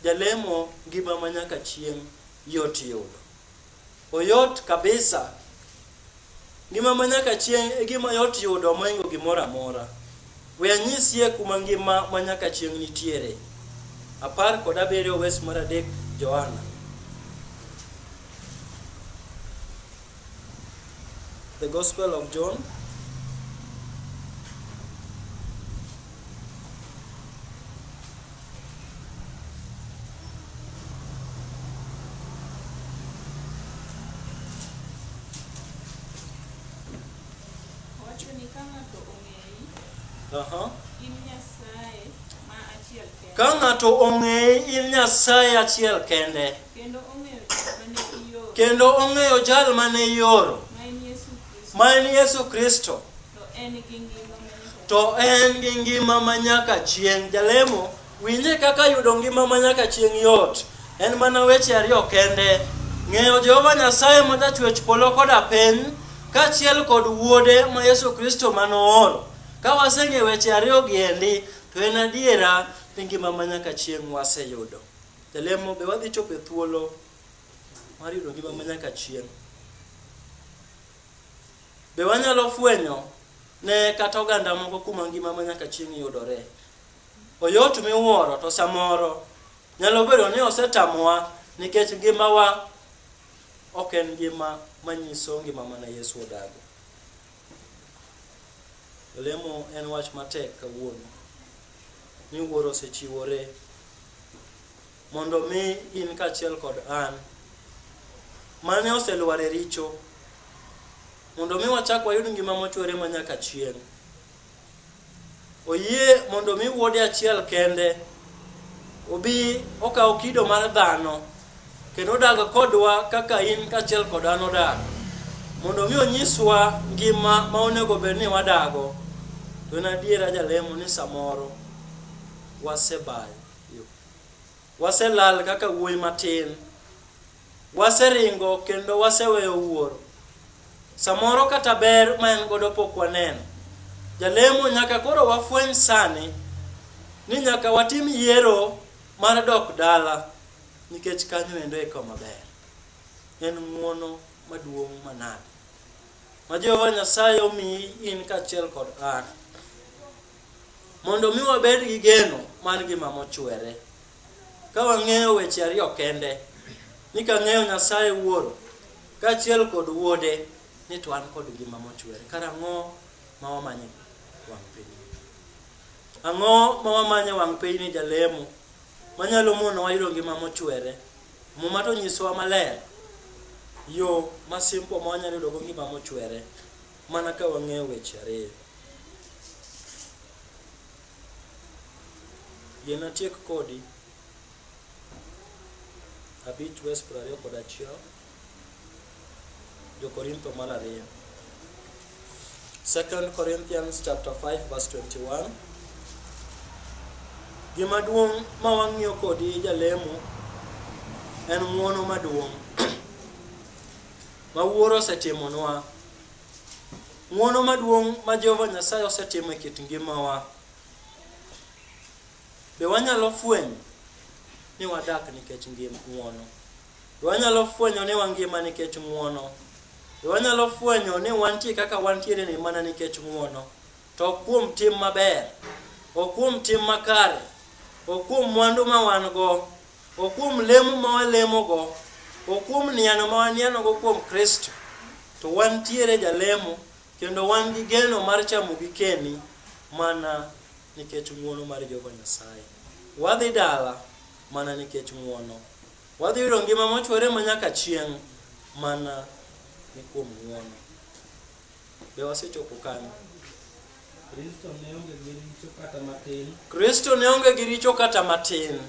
Jalemo ngima ma nyaka chieng' yot yudo. Oyot kabisa. Ngima ma nyaka chieng' e gima yot yudo moingo gimoro amora. We anyisie kuma ngima ma nyaka chieng' nitiere. Apar kod abiriyo wes mar adek Johana. The Gospel of John Ka ng'ato ong'eyi in Nyasaye achiel kende kendo ong'eyo jal mane ioro ma en Yesu Kristo To en gi ngima ma nyaka chieng'. Jalemo, winje kaka yudo ngima ma nyaka chieng' yot. En mana weche ariyo kende. Ng'eyo Jehova Nyasaye ma jachwech polo koda piny, kaachiel kod wuode ma Yesu Kristo ma nooro. Ka waseng'eyo weche ariyo gi endi, to en adiera ni ngima ma nyaka chieng' waseyudo. Jalemo, be wadhi chopo e thuolo mar yudo ngima ma nyaka chieng'? Be wanyalo fwenyo ne kata oganda moko kuma ngima ma nyaka chieng' yudore? Oyot miwuoro to samoro nyalo bedo ni osetamowa nikech ngimawa ok en ngima manyiso ngima mana Yesu odago. Olemo en wach matek kawuono. Miwuoro osechiwore mondo mi in kaachiel kod an mane oselwar e richo mondo mi wachak wayud ngima mochwere ma nyaka chieng' oyie mondo mi wuode achiel kende obi okaw kido mar dhano kendo odag kodwa kaka in kaachiel kod an odag mondo mi onyiswa ngima ma onego bed ni wadago to en adiera jalemo ni samoro wasebayo Waselal kaka wuoyi matin. Waseringo kendo waseweyo wuoro. Samoro kata ber ma en godo pok waneno. Jalemo nyaka koro wafweny sani ni nyaka watim yiero mar dok dala nikech kanyo endo e kama ber. En ng'uono maduong' manade ma Jehova Nyasaye omiyi in kaachiel kod an. Mondo mi wabed gi geno mar ngima mochwere. Ka wang'eyo weche ariyo kende, ni ka ng'eyo Nyasaye Wuoro, kaachiel kod Wuode, ni to an kod ngima mochwere. Karang'o ma wamanye wang' piny? Ang'o ma wamanye wang' piny ni jalemo manyalo mono wayudo ngima mochwere? Muma to nyisowa maler yo ma simple ma wanyalo yudogo ngima mochwere. Mana ka wang'eyo weche ariyo. Yie natiek kodi abich wes piero ariyo kod achiel Jokorintho mar ariyo. 2 Corinthians chapter 5 verse 21 Gima duong' ma wang'iyo kodi jalemo en ng'wono maduong' ma Wuoro osetimonwa, ng'wono maduong' ma Jehova Nyasaye osetimo e kit ngimawa, be wanyalo fwenyo ni wadak nikech ng'wono? Be wanyalo fwenyo ni wangima nikech ng'wono? Be wanyalo fwenyo ni wantie kaka wantiere ni mana nikech ng'wono? To ok kuom tim maber, ok kuom tim makare, ok kuom mwandu ma wan go, O kuom lemo ma walemogo, o kuom niano ma wanianogo kuom Kristo, to wantiere jalemo kendo wan gi geno mar chamo gikeni mana nikech ng'uono mar Jehova Nyasaye. Wadhi dala mana nikech ng'uono. Wadhi yudo ngima mochwere ma nyaka chieng' mana ni kuom ng'uono. Be wasechopo kanyo? Kristo ne onge gi richo kata matin. Kristo ne onge gi richo kata matin.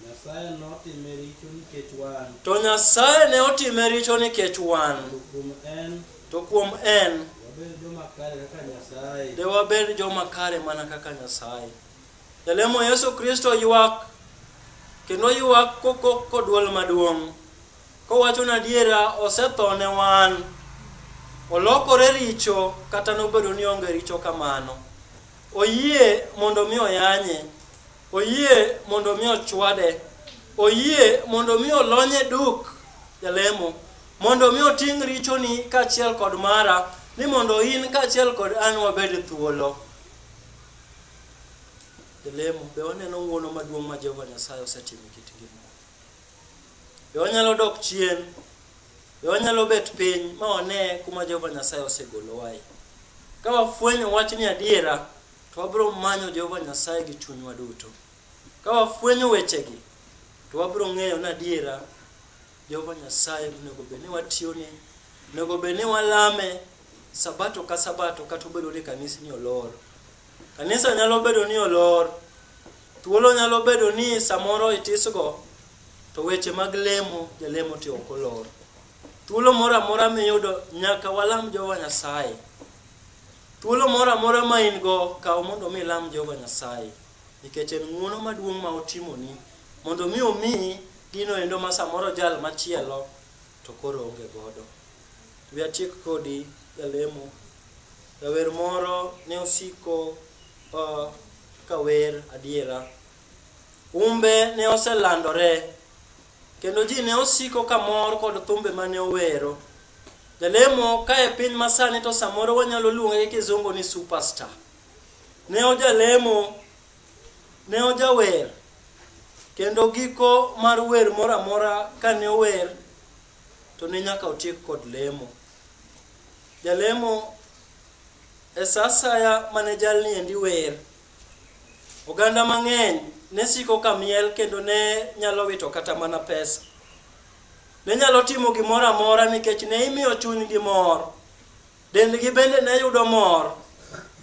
Nyasaye notime richo nikech wan. To Nyasaye ne otime richo nikech wan. To kuom en. To kuom en. Wabed joma kare kaka Nyasaye. De wabed joma kare mana kaka Nyasaye. Jalemo Yesu Kristo ywak kendo ywak kodwol maduong'. Kowachonu adiera, osetho ne wan. Olokore richo kata nobedo ni onge richo kamano. Oyie mondo mi oyanye. Oyie mondo mi ochwade. Oyie mondo mi olonye duk jalemo. Mondo mi oting' richoni kaachiel kod mara ni mondo in kaachiel kod an wabed thuolo. Jalemo, be waneno ng'wono maduong' ma Jehova Nyasaye osetimo e kit ngima? Be wanyalo dok chien? Be wanyalo bet piny ma wane kuma Jehova Nyasaye osegolowae? Ka wafwenyo wachni adiera, to wabiro manyo Jehova Nyasaye gi chunywa duto. Ka wafwenyo wechegi, to wabiro ng'eyo ni adiera Jehova Nyasaye onego bed ni watiyone, onego bed ni walame sabato ka sabato kata obedo ni kanisni olor. Kanisa nyalo bedo ni olor, thuolo nyalo bedo ni samoro itisgo, to weche mag lemo jalemo ti ok olor. Thuolo moro amora miyudo nyaka walam Jehova Nyasaye. Thuolo moro amora ma in go kaw mondo mi ilam Jehova Nyasaye nikech en ng'uono maduong' ma otimoni mondo mi omiyi gino endo ma samoro jal machielo to koro oonge godo. Wi atiek kodi jalemo. Jawer moro ne osiko uh, ka wer adiera. Humbe ne oselandore kendo ji ne osiko ka mor kod thumbe mane owero. Jalemo ka e piny masani to samoro wanyalo luonge gi kizungu ni superstar. Ne ojalemo Ne ojawer, kendo giko mar wer moro amora kane ower to ne nyaka otiek kod lemo. Jalemo e sa asaya mane jalni endi wer, oganda mang'eny ne siko ka miel kendo ne nyalo wito kata mana pesa. Ne nyalo timo gimoro amora nikech ne imiyo chunygi mor. Dendgi bende ne yudo mor.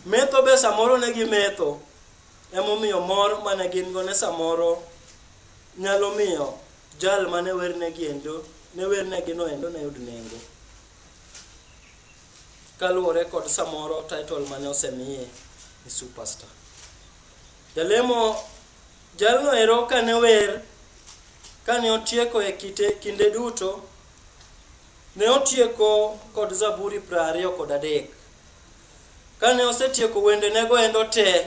Metho be samoro ne gimetho. Emomiyo mor mane gin go ne samoro nyalo miyo jal mane wernegi endo ne wernegi no endo ne yud nengo kaluwore kod samoro title mane osemiye ni superstar jalemo jalno ero kane wer kane otieko e kite kinde duto Ne otieko kod Zaburi prariyo kod adek. Kane osetieko wendenego endo te,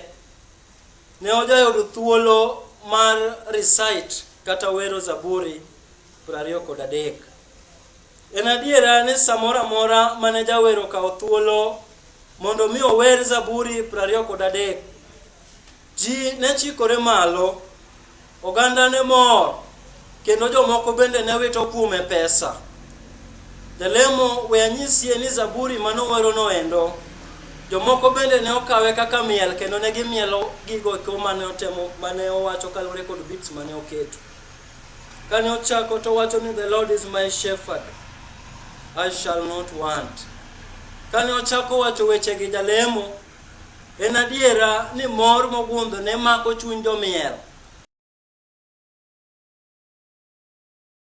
ne ojayudo thuolo mar recite kata wero Zaburi prariyo kod adek. En adiera ni samoro amora mane jawer okawo thuolo mondo mi ower Zaburi prariyo kod adek, Ji ne chikore malo, oganda ne mor, kendo jomoko bende ne wito kuome pesa. Jalemo we anyisie ni zaburi ma nowerono endo, jomoko bende ne okawe kaka miel kendo ne gimielo gigo eko mane otemo mane owacho kaluwore kod beats mane oketo. Kane ochako to wacho ni the Lord is my shepherd, I shall not want. Kane ochako wacho wechegi jalemo En adiera ni mor mogundho ne mako chuny jomiel.